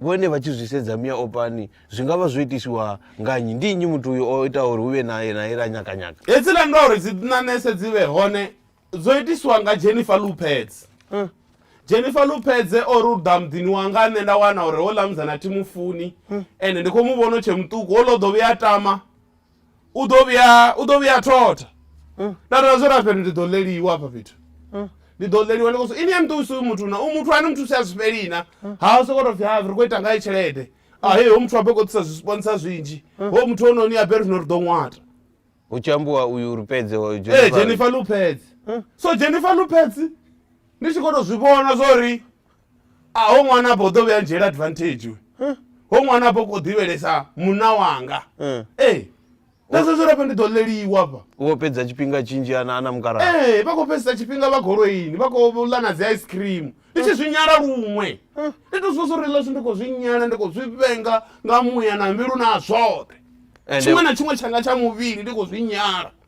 A: vhone vha tshi zwi sedza mia opani zwi nga vha zwo itiswa nga nnyi ndi nnyi muthu uyo o ita uri hu vhe nae nae ra nyakanyaka Hedzila ndo ri dzi ṋanese dzi vhe hone dzo itiswa nga Jennifer Lupedze. Huh? Jennifer Lupedze o ri u ḓa muḓini wanga nṋe nda wana uri houḽa musidzana thi mu funi ende ndi khou mu vhona u tshe muṱuku houḽa u ḓo vhuya a tama u ḓo vhuya u ḓo vhuya thotha mm. nda tou zwo ra fhethu ndi ḓo ḽeliwa hafha fhethu mm. ndi ḓo ḽeliwa ndi koso ini ya muthusi uyu muthu na u muthu ane muthusi a zwi fhelina mm. ha u sokoto pfhi ha ri khou ita ngayo tshelede ahe ho muthu a bve kho ḓisa zwisponsa zwinzhi ho muthu ononi a bve ri zwino ri ḓo ṅwata hu tshi ambiwa uyu uri pedze ee jennifer lupedze so jennifer lupedze ndi tshi kho to zwi vhona zwo ri a ho ṅwana afho u ḓo vhuya ndzhiela advantage we ho ṅwana afho kho ḓivhelesa munna wanga Eh. ee nda zwa zwo rafha ndi ḓo ḽeliwa afha wo fhedza tshifhinga tshinzhi ana ana mukalaha ee vha khou fhedzisa tshifhinga vha goloini vha khou ḽa na dzi ice cream ndi tshi zwi nyala luṅwe ndi to zwi uri ḽashu ndi khou zwi nyala ndi khou zwi vhenga nga muya na mbilu na zwoṱhe Ende- tshiṅwe na tshiṅwe tshanga tsha muvhili ndi khou zwi nyala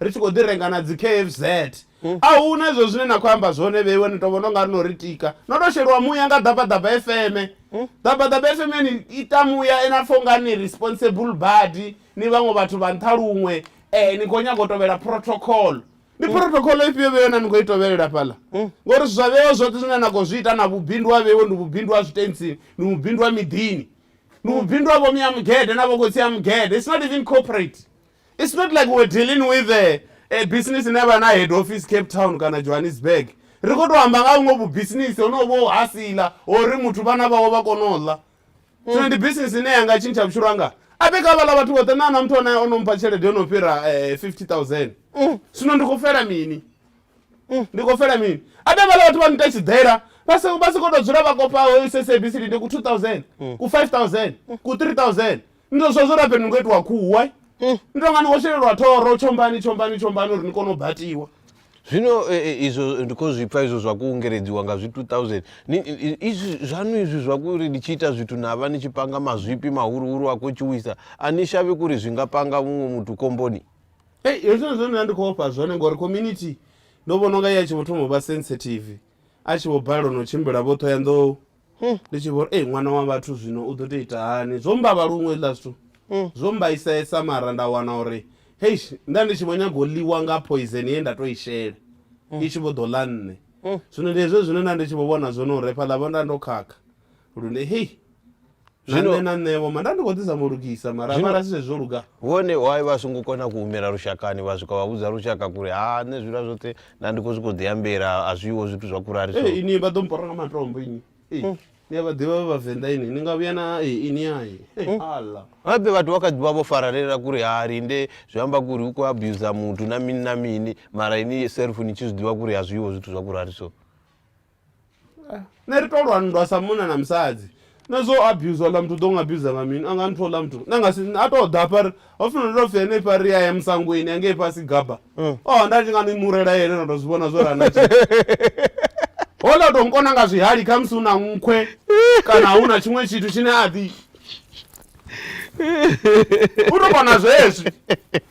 A: Ri tshi khou ḓi renga na dzi KFZ. A hu na izwo zwine na khou amba zwone vheiwe, ni tou vhona u nga ri no ri tika. No tou sheliwa muya nga Ḓabaḓaba FM. Ḓabaḓaba FM ya ni ita muya na pfa u nga ni responsible badi, ni vhaṅwe vhathu vha nṱha luṅwe, ni khou nyaga u tovhela protocol. Ndi protocol ifhio vheiwe ine na khou i tovhelela fhaḽa? Ngori zwa vheiwe zwoṱhe zwine na khou zwi ita na vhubindu ha vheiwe ndi vhubindu ha zwitentsini, ndi vhubindu ha miḓini. Ndi vhubindu ha vho Miamugede na vho Khotsi Amugede. It's not even corporate. It's not like we're dealing with a, a business ine vha na head office Cape Town kana Johannesburg. Ri khou tou amba nga ha vhuṅwe vhubisinisi honovho vho hasila uri muthu vhana vhawe vha kone u ḽa. Zwino ndi bisinisi ine ya nga tshintsha vhutshilo hanga. A bika vhaḽa vhathu vhoṱhe nṋe a na muthu ane o no mpha tshelede yo no fhira eh, 50000. Zwino ndi khou fela mini? Ndi khou fela mini? A bika vhaḽa vhathu vha nita tshiḓela vha si vha si khou tou dzula vha kopa SABC ndi ku 2000, ku 5000, ku 3000. ni to zwa zwo labe ni ngo itiwa khuwa ni to nga ni khou shelelwa thoro tshombani tshombani tshombani uri ni kone u batiwa zwino eh, eh, izvo ndi khou zwi pfa izvo zwa kuungeledziwa nga zwi 2000 Ni- i- i- izvi zvanu izvi zvakuri ni tshi ita zwithu na vha ni tshi panga mazwipi mahuruhuru a khou tshuwisa a ni shavhi kuri zwi nga panga muṅwe muthu komboni ei hezwino zwine nda ndi khou ofha zwone ngori community ndo vhona unga ya tshi vho thoma u vha sensitive a tshi vho balelwa no tshimbila vho thoya nḓou Ndi tshi vhori ei ṅwana wa vhathu zwino u ḓo tou ita hani zwo mbavha luṅwe hezwiḽa zwithu zwo mbaisesa mara nda wana uri heish nda ndi tshi vho nyaga u ḽiwa nga poison ye nda to i shela i tshi vho ḓo ḽa nṋe zwino ndi hezwo zwine nda ndi tshi vho vhona zwone uri hafhaḽa vho nda ndo khakha lune hei na nṋe na nṋevho ma nda ndi khou ḓisa mulugisa mara zwino, mara si zwezwo luga vhone why vha songo kona ku humela lushakani vha swika vha vhudza lushaka kuri ha nṋe zwiḽa zwoṱhe nda ndi khou zwi khou ḓi ambela a zwiho zwithu zwa kurari so hey, ini vha ḓo mpora nga matombo ini hey. mm. ni a vha ḓivha vha vhavenḓa ini ni nga vhuya na hey, ini hai hey, mm. ala gape vhathu vha kha ḓi vha vho faralela kuri ha linde zwi amba kuri u khou abusa muthu na mini na mini mara ini self ni tshi zwi ḓivha kuri a zwiho zwithu zwa kurari so nṋe ri to lwa nndwa sa munna na musadzi na zwo abuser ḽa muthu ḓo nga abuser nga mini anga ni thola muthu na nga si a to ḓa hafha ho funa ndo pfhi ene fha ri ya ya musangweni ya ngei fhasi gaba mm. oh nda ndi nga ni murela yene na to zwi vhona zwo ra na hola to nkona nga zwihali kha musi una nkhwe kana huna tshiṅwe tshithu tshine a ḓi u to vhona zwezwi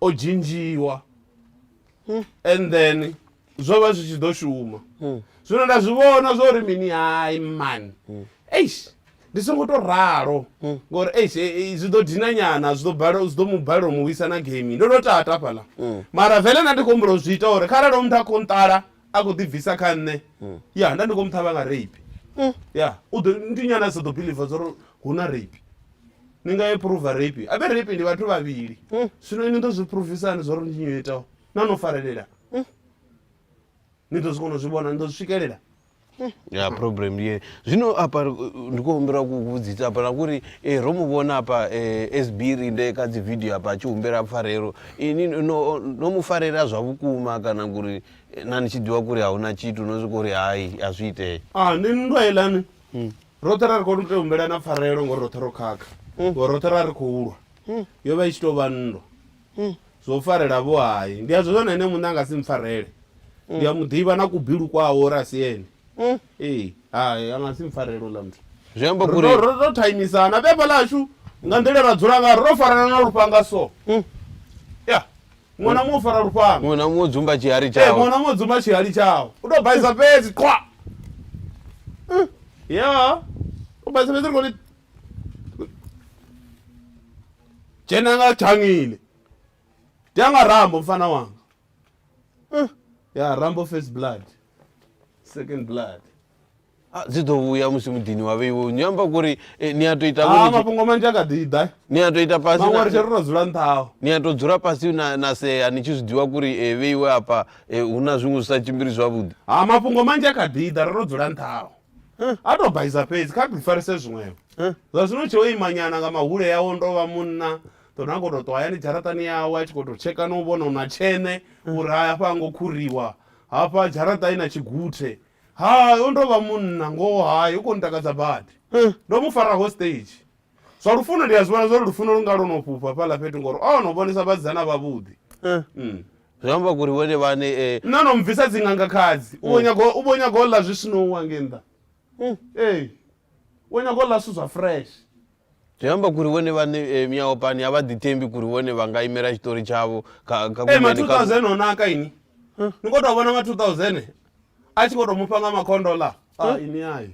A: o dzhinzhiwa and then zwo vha zwi tshi ḓo shuma zwino nda zwi vhona zwa uri mini hai man eish ndi songo to ralo ngori eish eh, eh, zwi ḓo dina nyana zwi ḓo balelwa- zwi ḓo mu balelwa u mu wisa na game ndo to tata fhaḽa mara vele na ndi khou humbula u zwi ita uri kharali muthu a khou nṱala a khou ḓibvisa kha nṋe ya nda ndi khou mu ṱhavha nga rape ya u ḓo ndi nyana a sa ḓo biliva zwa uri hu na rape ni nga ye phuruva rape a vhe rape ndi vhathu vhavhili zwino ini ḓo zwi phurufisani zwa uri ndi nyo itaho na no farelela ni ḓo zwi kona u zwi vhona ni ḓo zwi swikelela ya problem ndi ye zwino apa eh, ndi khou humbela ku vhudzisa apa na kuri eh, ro mu vhona apa eh, sbiri nde kha dzi video apa a tshi humbela pfarelo ini no, no mu farela zwa vhukuma kana kuri eh, na ni tshi ḓivha kuri a hu na tshithu no swika uri hai a zwi itee ah ni nndwa ilani roṱhe ra ri khou tea humbela na pfarelo ngori roṱhe ro khakha ngori roṱhe ra ri khou lwa yo vha i tshi tou vha nndwa zwo farela vho hai ndi a zwi vhona ene muṋe a nga si mpfarele ndi a mu ḓivha na kubilu kwawe uri a si ene ee hai a nga si mpfarele uḽa muthu zwi amba uri ro ro ro thaimisana beba ḽashu nga nḓila ra dzula nga ro farana na lufhanga so ya muṅwe na muṅwe u fara lufhanga muṅwe na muṅwe dzumba tshihali ee tshawe muṅwe na muṅwe dzumba tshihali tshawe u tou baisa fhedzi qwa ya u baisa fhedzi ri khou ri Jane akathangile dyanga rambo mfana wanga eh, ya rambo first blood second blood ah, dzi ḓo vhuya musi muḓini wa vheiwo ni amba kuri eh, ni a to ita ah, mafhungo manzhi a kha ḓi ḓa ni a to ita fasi maṅwe ri tshi ri to dzula nṱhaho ni a to dzula fhasi na, na sea ni tshi zwi ḓivha kuri eh, vheiwe hafha eh, hu na zwiṅwe zwi sa tshimbili zwavhuḓi ha ah, mafhungo manzhi a kha ḓi ḓa ri to dzula nṱhaho atobhaisa fhedzi kha ḓifarise zwiṅwevho zwa zwino tshe o imanyana nga mahule yawo ndo vha munna ḓona a khou tou ṱwa hayani dzharaṱani yawe a tshi khou tou tsheka no u vhona u na tshene uri hafha ngo khuriwa hafha dzharaṱa i na tshiguthe hai o ndo vha munna ngoho hai u khou ntakadza badi ndo mu fara hostage zwa lufuno ndi a zwi vhona zwa uri lufuno lu nga lwo no fhufha fhaḽa fhethu ngori o no vhonisa vhasidzana vhavhuḓi Eh, Mm. zwi amba kuri vhone vhane eh, nṋe no mbvisa dzinganga khadzi u vho nyaga u vho nyaga u ḽa zwi sinowa nge nnḓa mm, ee u nyaga u ḽa zwithu zwa fresh zwi amba kuri vhone vhane eh, miyaopani a vha ḓithembi kuri vhone vha nga imela tshitori tshavho kha kha ee ma kumeni, kha- 2000 o naka ini ni khou tou vhona ma 2000 a tshi khou tou mufha nga makhondo ḽa a ini ai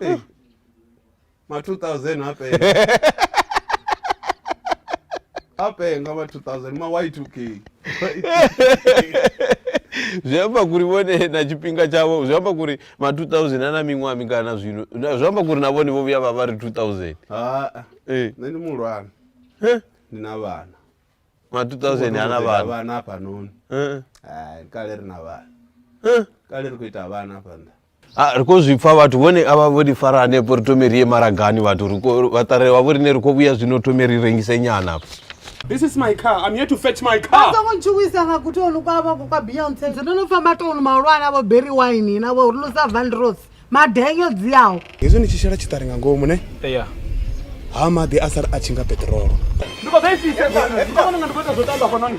A: Ee. ma 2000 a penga a penga ma 2000 ma y2k zwi amba kuri vhone na tshifhinga tshavho zwi amba kuri ma 2000 a na miṅwaha mingana zwino Na- zwi amba kuri na vhone vho vhuya vha vha ri 2000 haa Eh. nṋe ndi muhulwane Heh. ndi na vhana ma 2000 ha na vhana vhana hafhanoni Eh, Hai, kale ri na vhana eh. kale ri khou ita vhana hafha nṱha Ah, ri khou zwi pfa vhathu vhone avha vho ri fara hanefho ri thome ri ye maragani vhathu ri khou- vhaṱare vha vho rine ri khou vhuya zwino thome ri rengise nyana hafha This is my car. I'm here to fetch my car. songo ntshuwisa nga gutoni kwavha kwa beyonce ndzi ndo no famba toni mahulwane avo berry wine navo ri lusa vandrosi madenyo dziaho hezwi ni tshi shela tshiṱari nga ngomu ne ya ha maḓi a sala a tshi nga peṱirolo ndi khou ḓoisiseonanga ndi khou ita zwo tamba fanoni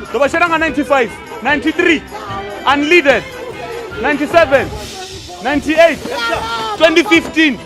A: ndo vha shela nga 95 93 unleaded 97 98 2015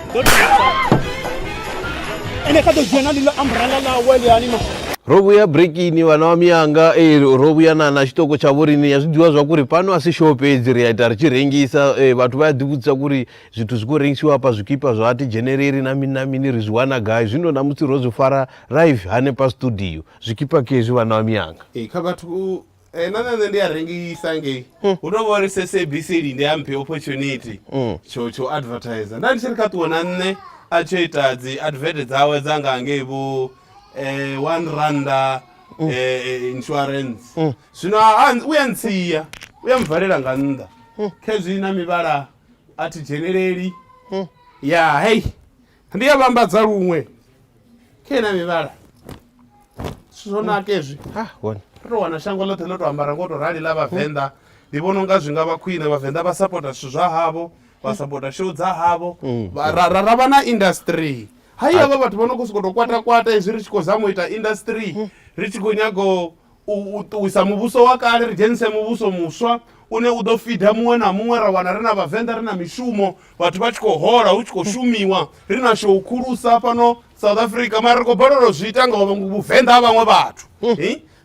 A: ene kha ḓo dzhia na ḽiḽo ambrela ḽawe ḽiani ma ro vhuya brekini vhana wa miyanga e ro vhuya na na tshiṱoko tsha vhorini ya zwi ḓivha zwa kuri fhano a si show fhedzi ri a ita ri tshi rengisa e, vhathu vha ya ḓivhudzisa kuri zwithu zwi khou rengisiwa hafha zwikipa zwa ti dzheneleri na mini na mini ri zwi wana gai zwino na musi ro zwi fara live hanefha studio zwikipa kezwi vhana wa miyanga Ee, kha vhathu Eh, na nṋe ndi a rengisa ngei hmm. hu tou vha uri sabc linde a mphe opportunity hmm. tsho tsho advertiser nda ndi tshi ri kha ṱuwe na nṋe a tsho ita dzi advert dzawe dza nga ngei vho eh, one randa hmm. eh, insurance zwino u ya ntsia u ya mvalela nga nnḓa khezwi na mivhala a thi dzheneleli ya hei ndi ya vhambadza luṅwe kha ina mivhala zwithu zwo naka ezwi ha hone ri to wana shango ḽoṱhe ḽo to ambara ngo to rali ḽa vhavenḓa ndi vhona unga zwi nga vha khwine vhavenḓa vha sapota zwithu zwa havho vha sapota show dza havho Vha- ra ra- ra vha na industry hayi havha vhathu vha no khou sokou tou kwatakwata izwi ri tshi khou zama u ita industry ri tshi khou nyaga u- u u ṱuwisa muvhuso wa kale ri dzhenise muvhuso muswa une u ḓo fida muṅwe na muṅwe ra wana ri na vhavenḓa ri na mishumo vhathu vha tshi khou hola hu tshi khou shumiwa ri na shou khulusa fhano south africa mara ri khou balelwa zwi ita nga vhuvenḓa ha vhaṅwe vhathu hmm.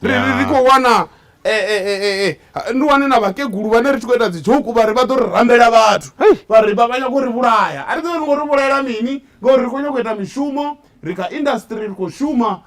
A: ri ri khou wana eh, eh, eh, ndi wane na vhakegulu vhane ri tshi khou ita dzijoku vhari vha ḓo ri rambela vhathu vhari vha nyako ri vhulaya a ri ḓo ri ngo ri vhulaela mini ngauri ri khou nyako ita mishumo ri kha industry ri khou shuma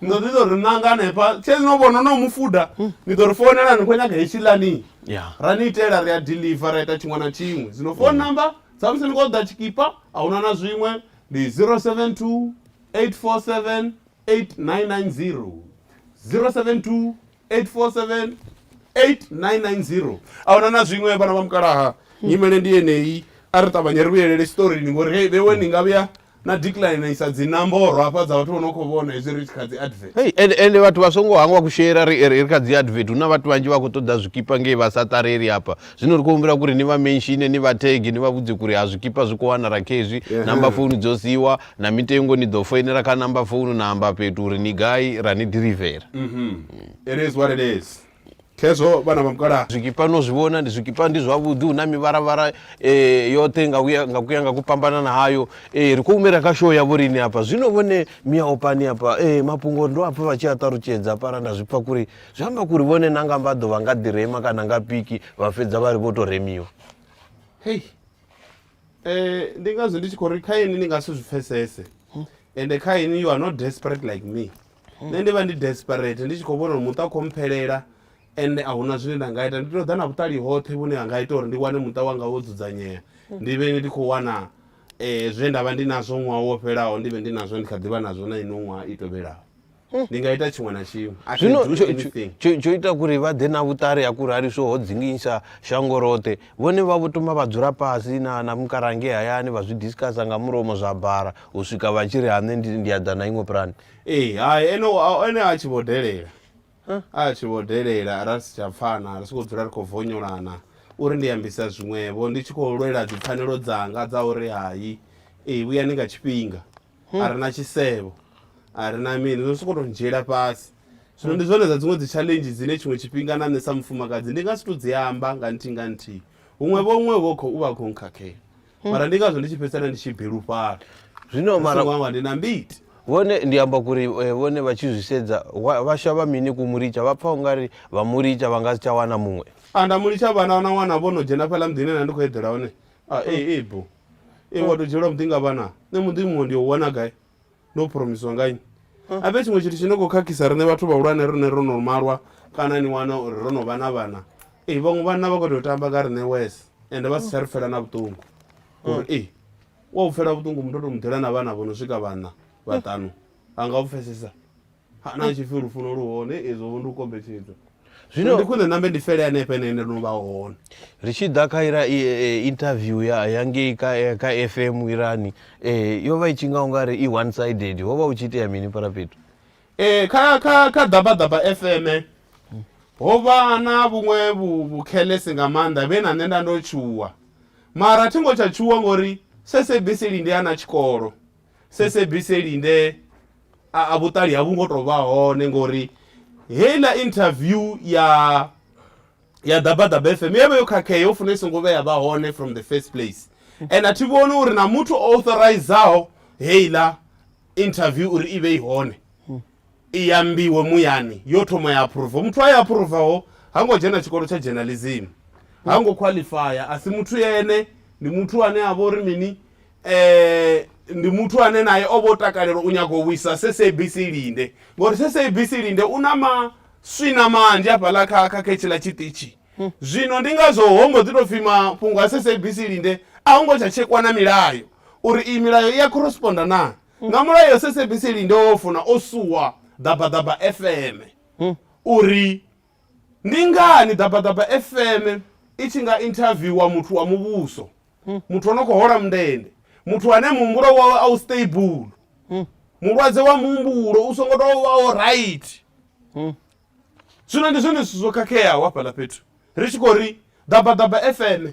A: ni ḓo ḓi ḓo ri ṋanga hanefha tshezi no vhona no mufuda ni ḓo ri founela ni khou nyaga hetshiḽani Yeah. ra ni itela ri a deliver ra ita tshiṅwe na tshiṅwe zwino phone number dza musi ni khou ḓa tshikipa a huna na zwiṅwe ndi 072 847 8990 072 8478990 a huna na zwiṅwe vhana vha mukalaha nyimele ndi yeneyi a ri ṱavhanye ri vhuyelele tshiṱorini ngori hei vhewe ni nga vhuya na decline isa dzinamboro hafha dza vhathu vho no khou vhona hezwi ri tshi kha dzi advert Hey, ende ende vhathu vha songo hangwa kushera ri ri ri kha dzi advert huna vhathu vhanzhi vha khou ṱoḓa zwikipa ngei vha sa ṱareli hafha zwino ri khou humbela kuri ni vha menshine ni vha tege ni vha vhudze kuri ha zwikipa zwi khou wanala khezwi Yeah. namba founu dzo siiwa na mitengo ni ḓo foinela kha namba founu na amba fhethu uri ni gai ra ni ḓirivela it is what it is khezwo vhana vha mukala zwikipa no zwi vhona ndi zwikipa ndi zwavhuḓi hu na mivharavhara eh, yoṱhe nga kuya nga kuya nga ku fhambanana hayo eh, ri khou humela kha show ya vhorini hafha zwino vhone mia opani hafha eh, mafhungo ndo hafha vha tshi a ṱalutshedza hafhala nda zwipfa kuri zwi amba kuri vhone na nga mbaḓo vha nga ḓirema kana nga piki vha fhedza vha ri vho to remiwa hei Eh, ndi ngazwo ndi tshi khou ri kha ini ni nga si zwi pfesese ende kha ini you are not desperate like me nṋe ndi vha ndi desperate ndi tshi khou vhona uri muṱa u khou mphelela ende a huna zwine nda nga ita ndi tou ḓa na vhuṱali hoṱhe vhune ha nga ita uri ndi wane muṱa wanga wo dzudzanyea ndi vhe ndi khou wana um zwe nda vha ndi nazwo ṅwaha wo fhelaho ndi vhe ndi nazwo ndi kha ḓi vha nazwo na ino ṅwaha i tovhelaho hmm. ndi nga ita tshiṅwe na tshiṅwe zwino tsho ita kuri vha ḓe na vhuṱari ha kuri hariso ho dzinginyisa shango roṱhe vhone vha vho toma vha dzula fhasi na na mukarange hayani vha zwi discussa nga mulomo zwa bara u swika vha tshi ri hane ndi ya ḓa na iṅwe pulani ee hai ene ene a tshi vho delela a tshi vho delela ra si tsha pfana ri si khou dzula ri khou vonyolana uri ndi ambisa zwiṅwevho ndi tshi khou lwela dzipfanelo dzanga dza uri hai ee vhuyani nga tshifhinga a re na tshisevho a re na mini no sokou tou ndzhiela fhasi zwino ndi zwone dza dziṅwe dzi challenge dzine tshiṅwe tshifhinga na nṋe sa mufumakadzi ndi nga si tou dzi amba nga nthihi nga nthihi huṅwe vho huṅwe vho u vha khou nkhakhela mara ndi ngazwo ndi tshi fhedzisela ndi tshi bilufhala zwino mara wanga ndi na mbiti vhone ndi amba kuri eh, vhone vha tshi zwi sedza wa- vha shavha mini ku muricha vha pfa ungari vha muricha vha nga si tsha wana muṅwe a nda mulitsha vhana na wana vho no dzhena fhaḽa muḓini na ndi khou eḓela hone a e e bo e wa to dzhielwa muḓi nga vhana nṋe muḓi muṅwe ndi o wana gai ndo phuromisiwa nga nnyi a vhe tshiṅwe tshithu tshi no khou khakhisa riṋe vhathu vhahulwane rine ro no malwa kana ni wana uri ro no vha na vhana ee vhaṅwe vhanna vha khou tea u tamba nga riṋe wes ende vha si tsha ri pfela na vhuṱungu uri ee wa u pfela vhuṱungu muthu o to muḓela na vhana vho no swika vhanna vhaṱanu a nga u pfhesesa Ha, na tshipfi lufuno lu hone izwo vho ndi u kombetshedza zwino Zwino- ndi khwine nambe ndi fele hanefha ene ende no vha hone ri tshi ḓa kha ira i- eh, interview ya ya ngei ka eh, ka fm irani eh, yo vha i tshi nga ungari i one sided ho vha hu tshi itea mini fhala fhethu Eh, kha kha kha ḓabaḓaba fm ho vha na vhuṅwe vhu- vhukhelesi nga maanḓa vhe na nṋe nda ndo tshuwa mara thi ngo tsha tshuwa ngori sabc lindi a na tshikolo sesebiseli nde a a vhuṱali ha vhu ngo tou vha hone ngori heiḽa interview ya ya ḓabaḓaba fm yo vha yo khakhea yo funa i songo vheya vha hone from the first place and a thi vhoni uri na muthu o authorizaho heiḽa interview uri i vhe i hone i ambiwe muyani yo thoma ya aphuruva muthu a ya aphuruvaho ha ngo dzhena tshikolo tsha journalism ha ngo qualifya a si muthu ene ndi muthu ane a vha uri mini eh ndi muthu ane naye o vho takalela u nyago u vhuisa SABC Linde ngori SABC Linde u na maswina manzhi hafhaḽa kha kha khetshiḽa tshiṱitshi hmm. zwino ndi ngazwo ho mbo ḓi tou pfhi mafhungo a SABC Linde a ho ngo tsha tshekwa na milayo uri iyi milayo i ya corresponda na hmm. nga mulayo SABC Linde wo funa o suwa ḓabaḓaba FM hmm. uri Ndi ngani Ḓabaḓaba FM i tshi nga inthaviwa muthu wa muvhuso, muthu o no khou hola mundende, muthu ane muhumbulo wawe a u stable, mulwadze wa muhumbulo u songo tou vha o right? Zwino ndi zwone zwithu zwo khakheaho hafhaḽa fhethu ri tshi khou ri Ḓabaḓaba FM.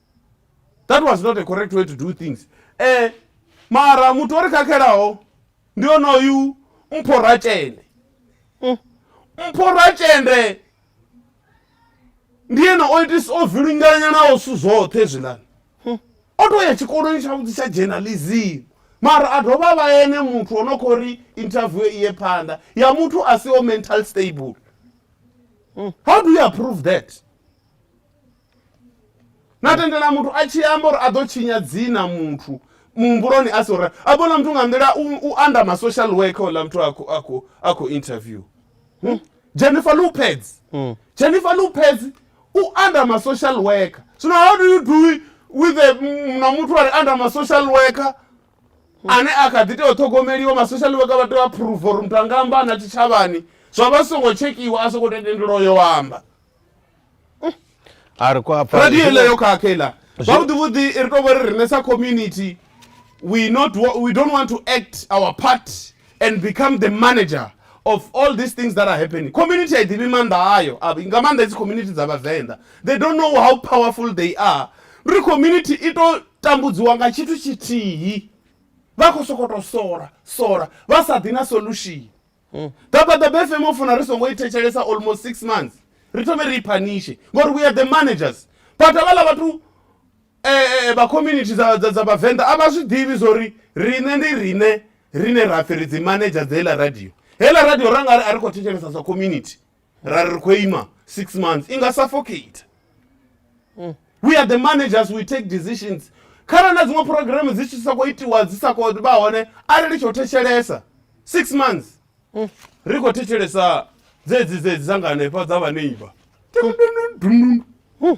A: that was not a correct way to do things eh mara muthu o ri khakhelaho ndi onoyu mpho ratshende mm. mpho ratshende ndi yena o itisa o vilinganya nawo zwithu zwoṱhe zwilani mm. o to ya tshikoloni tshavhuḓi tsha journalism mara a dovha vha ene muthu o no khou ri interview iye phanḓa ya muthu a si o mental stable mm. how do you approve that na tendela muthu a tshi amba uri a ḓo tshinya dzina muthu muhumbuloni a sora a vhona muthu nga nḓila u anda ma social worker ola muthu a khou interview hmm? jennifer lopez hmm. jennifer lopez u anda ma social worker zwino how do you do with the mm, na muthu ari anda ma social worker hmm. ane a kha ḓi tea u ṱhogomeliwa ma social worker vha tea u approve uri muthu anga amba na tshitshavhani zwa vha songo tshekhiwa a songo tendelwa yo amba a ri kwa hafha radio ile yo khakhela zwavhuḓi vhuḓi ri tou vha ri rine sa community we not we don't want to act our part and become the manager of all these things that are happening community a i ḓivhi maanḓa ayo nga maanḓa hedzi community dza vhavenḓa they don't know how powerful they are ri community i tou tambudziwa nga tshithu tshithihi vha khou sokoto sola sola vha sa ḓi na solution mm. that's why the bfm o funa ri songo i thetshelesa almost six months ri thome ri i phanishe ngori we are the managers but avhala vhathu eh, eh, eh, vha community dza vhavenḓa a vha zwi ḓivhi zwo ri riṋe ndi riṋe rine ra pfhi ri dzi manager dza heḽa radio heḽa radio ra nga ri a ri khou thetshelesa sa community ra ri khou ima six months i nga suffocate mm. we are the managers we take decisions kharali na dziṅwe programme dzi tshi sokou itiwa dzi sa khou vha hone arali ri tshi u thetshelesa six months mm. ri khou thetshelesa dzedzi dzedzi dza nga hanefha dza vhaneiba mm.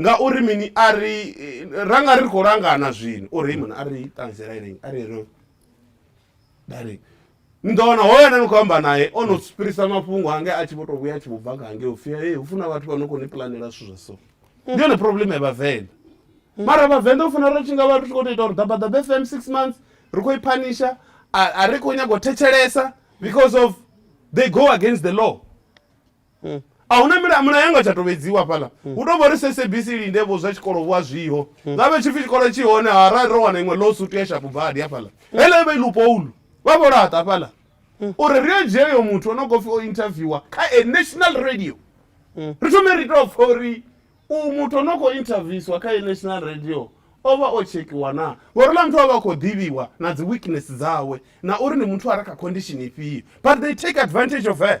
A: Ngauri mini a ri ra nga ri khou langana zwino o Raymond a ri ṱanzela ine a ri ro dali ni ḓo wana hoyo ane ni khou amba naye o no fhirisa mafhungo ange a tshi vho tou vhuya a tshi vho bva nga hange upfhi hey hu funa vhathu vha no khou ni pulanela zwithu zwa so ndi yone problem ya vhavenḓa mara vhavenḓa u funa ri tshi nga vha ri tshi khou tou ita uri ḓabaḓaba fm six months ri khou i phanisha a ri khou nyanga u thetshelesa because of they go against the law hmm. a hu na milayo milayo yanga tsha tovhedziwa fhaḽa hmm. hu tou vha uri sabc linde vho zwa tshikolo vhu a zwiho hmm. nga vhe tshipfi tshikolo tshi hone harali ro wana iṅwe low suit ya shapu badi hafhaḽa hele vha ilupoulu vha vho laṱa hafhaḽa uri ri yo dzhia yo muthu o no khou pfi o interviewa kha a national radio ri thome ri tou pfa uri u muthu o no khou interviewswa kha a national radio o vha o tshekhiwa na ngori ḽa muthu a vha a khou ḓivhiwa na dzi weakness dzawe na uri ndi muthu a re kha condition ifhio but they take advantage of her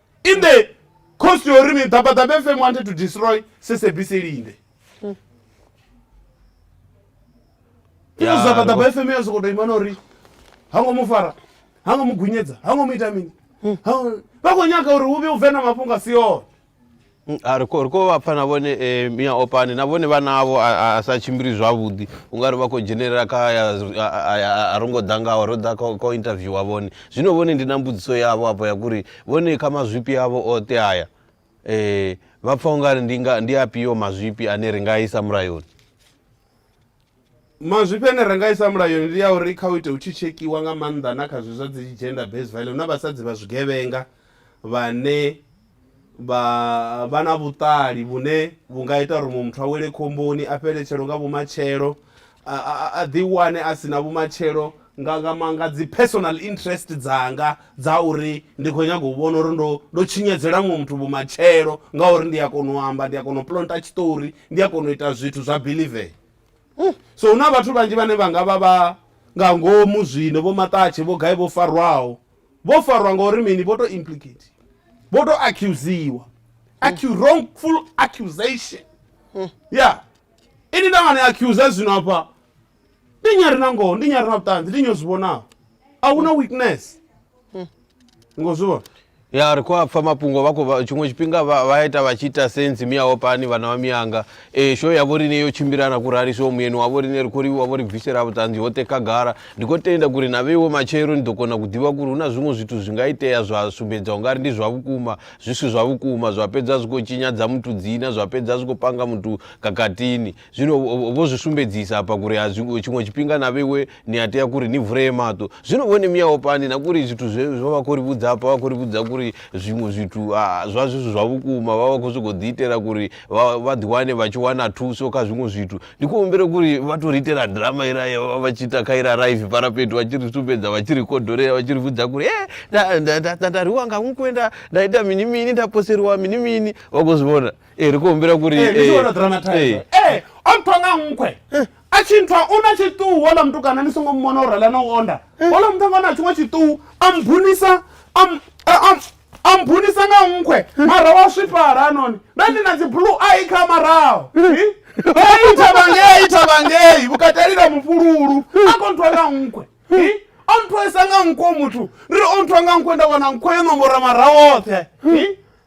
A: in the cost yo ri mi ḓabaḓabe fm wanted to destroy sesebc linde Ya, ḓabaḓaba fm ya sokoto imana uri ha ngo mu fara ha ngo mu gunyedza ha ngo mu ita mini Ha ngo- vha khou nyaga uri hu vhe u bve na mafhungo a si one Mm, a ri khou vha pfa na vhone eh, mia opane na vhone vhana avho a sa tshimbili zwavhuḓi u nga ri vha khou dzhenelela kha a ro ngo ḓa ngaho ro ḓa kha u interviewa vhone zwino vhone ndi na mbudziso yavho afho ya kuri vhone kha mazwifhi avho oṱe aya um vha pfa u nga ri ndi afhio mazwifhi ane ri nga isa mulayoni Mazwifhi ane ra nga isa mulayoni ndi ya uri kha u ite hu tshi tshekhiwa nga maanḓa na kha zwi zwa dzi gender based violence hu na vhasadzi vha zwigevhenga vhane vha vha na vhuṱali vhune vhu nga ita uri muṅwe muthu a wele khomboni a fheletshelo nga vhumatshelo a ḓi wane a si na vhumatshelo nga nga ma nga dzi personal interest dzanga dza uri ndi khou nyanga u vhona uri ndo ndo tshinyadzela muṅwe muthu vhumatshelo ngauri ndi a kona u amba ndi a kona u plonta tshiṱori ndi a kona u ita zwithu zwa believea hmm. so hu na vhathu vhanzhi vhane vha nga vha vha nga ngomu zwino vho maṱatshe vho gai vho farwaho vho farwa ngauri mini vho to implicate vho to accusiwa acu wrongful accusation hmm. ya ini nda nga ni accusa zwino afha ndi nyi a re na ngoho ndi nyi a re na vhuṱanzi ndi nyi o zwi vhonaho a hu na witness ngo zwi vhona ya ri khou a pfa mafhungo vha khou vha- tshiṅwe tshifhinga vha vha ita vha tshi ita sensi miyaho pani vhana vha miyanga um sho ya vho riṋe yo tshimbila na kurali so muyeni wa vho riṋe ri khou livhuwa vho ri bvisela vhuṱanzi hoṱhe khagala ndi khou tenda kuri na vheiwe matshelo ni ḓo kona ku ḓivha kuri hu na zwiṅwe zwithu zwi nga itea zwa sumbedza u nga ri ndi zwa vhukuma zwi si zwa vhukuma zwa fhedza zwi khou tshinyadza muthu dzina zwa fhedza zwi khou panga muthu kakatini Zwino vho zwi sumbedzisa hafha kuri a zwi tshiṅwe tshifhinga na vheiwe ni a tea kuri ni vulee maṱo zwino vhone miyaho pani na kuri zwithu zwe zwo vha khou ri vhudza hafha vha khou ri vhudza kuri zwiṅwe zwithu zwa zwithu zwa vhukuma vha vha khou sokou ḓi itela kuri vha ḓiwane vha tshi wana thuso kha zwiṅwe zwithu ndi khou humbela kuri vha tou ri itela drama ira vha tshi ita kha ira raive parapeto vha tshi ri sumbedza vha tshi ri kodolela vha tshi ri vhudza kuri e nda rwiwa nga nkwenda nda ita mini mini nda poseriwa mini mini vha khou zwi vhona ee ri khou humbela kuri ee ndi tshi dramatise ee o nthwa nga nkhwe a tshi nthwa u na tshiṱuhu ola mutukana ni songo mumona u rela na u onda ola muṱhanga o na tshiṅwe tshiṱuhu a mbunisa a mbunisa nga nkhwe mara wa swifhala hanoni nda ndi na dzi blue ai kha maraho ithavangei ithavangei vhukatelila mufululu a kho nthwa nga nkhwe o nthwesa nga nkhwe muthu ri o nthwa nga nkhwe nda wana nkhwe yo nombora maraho oṱhe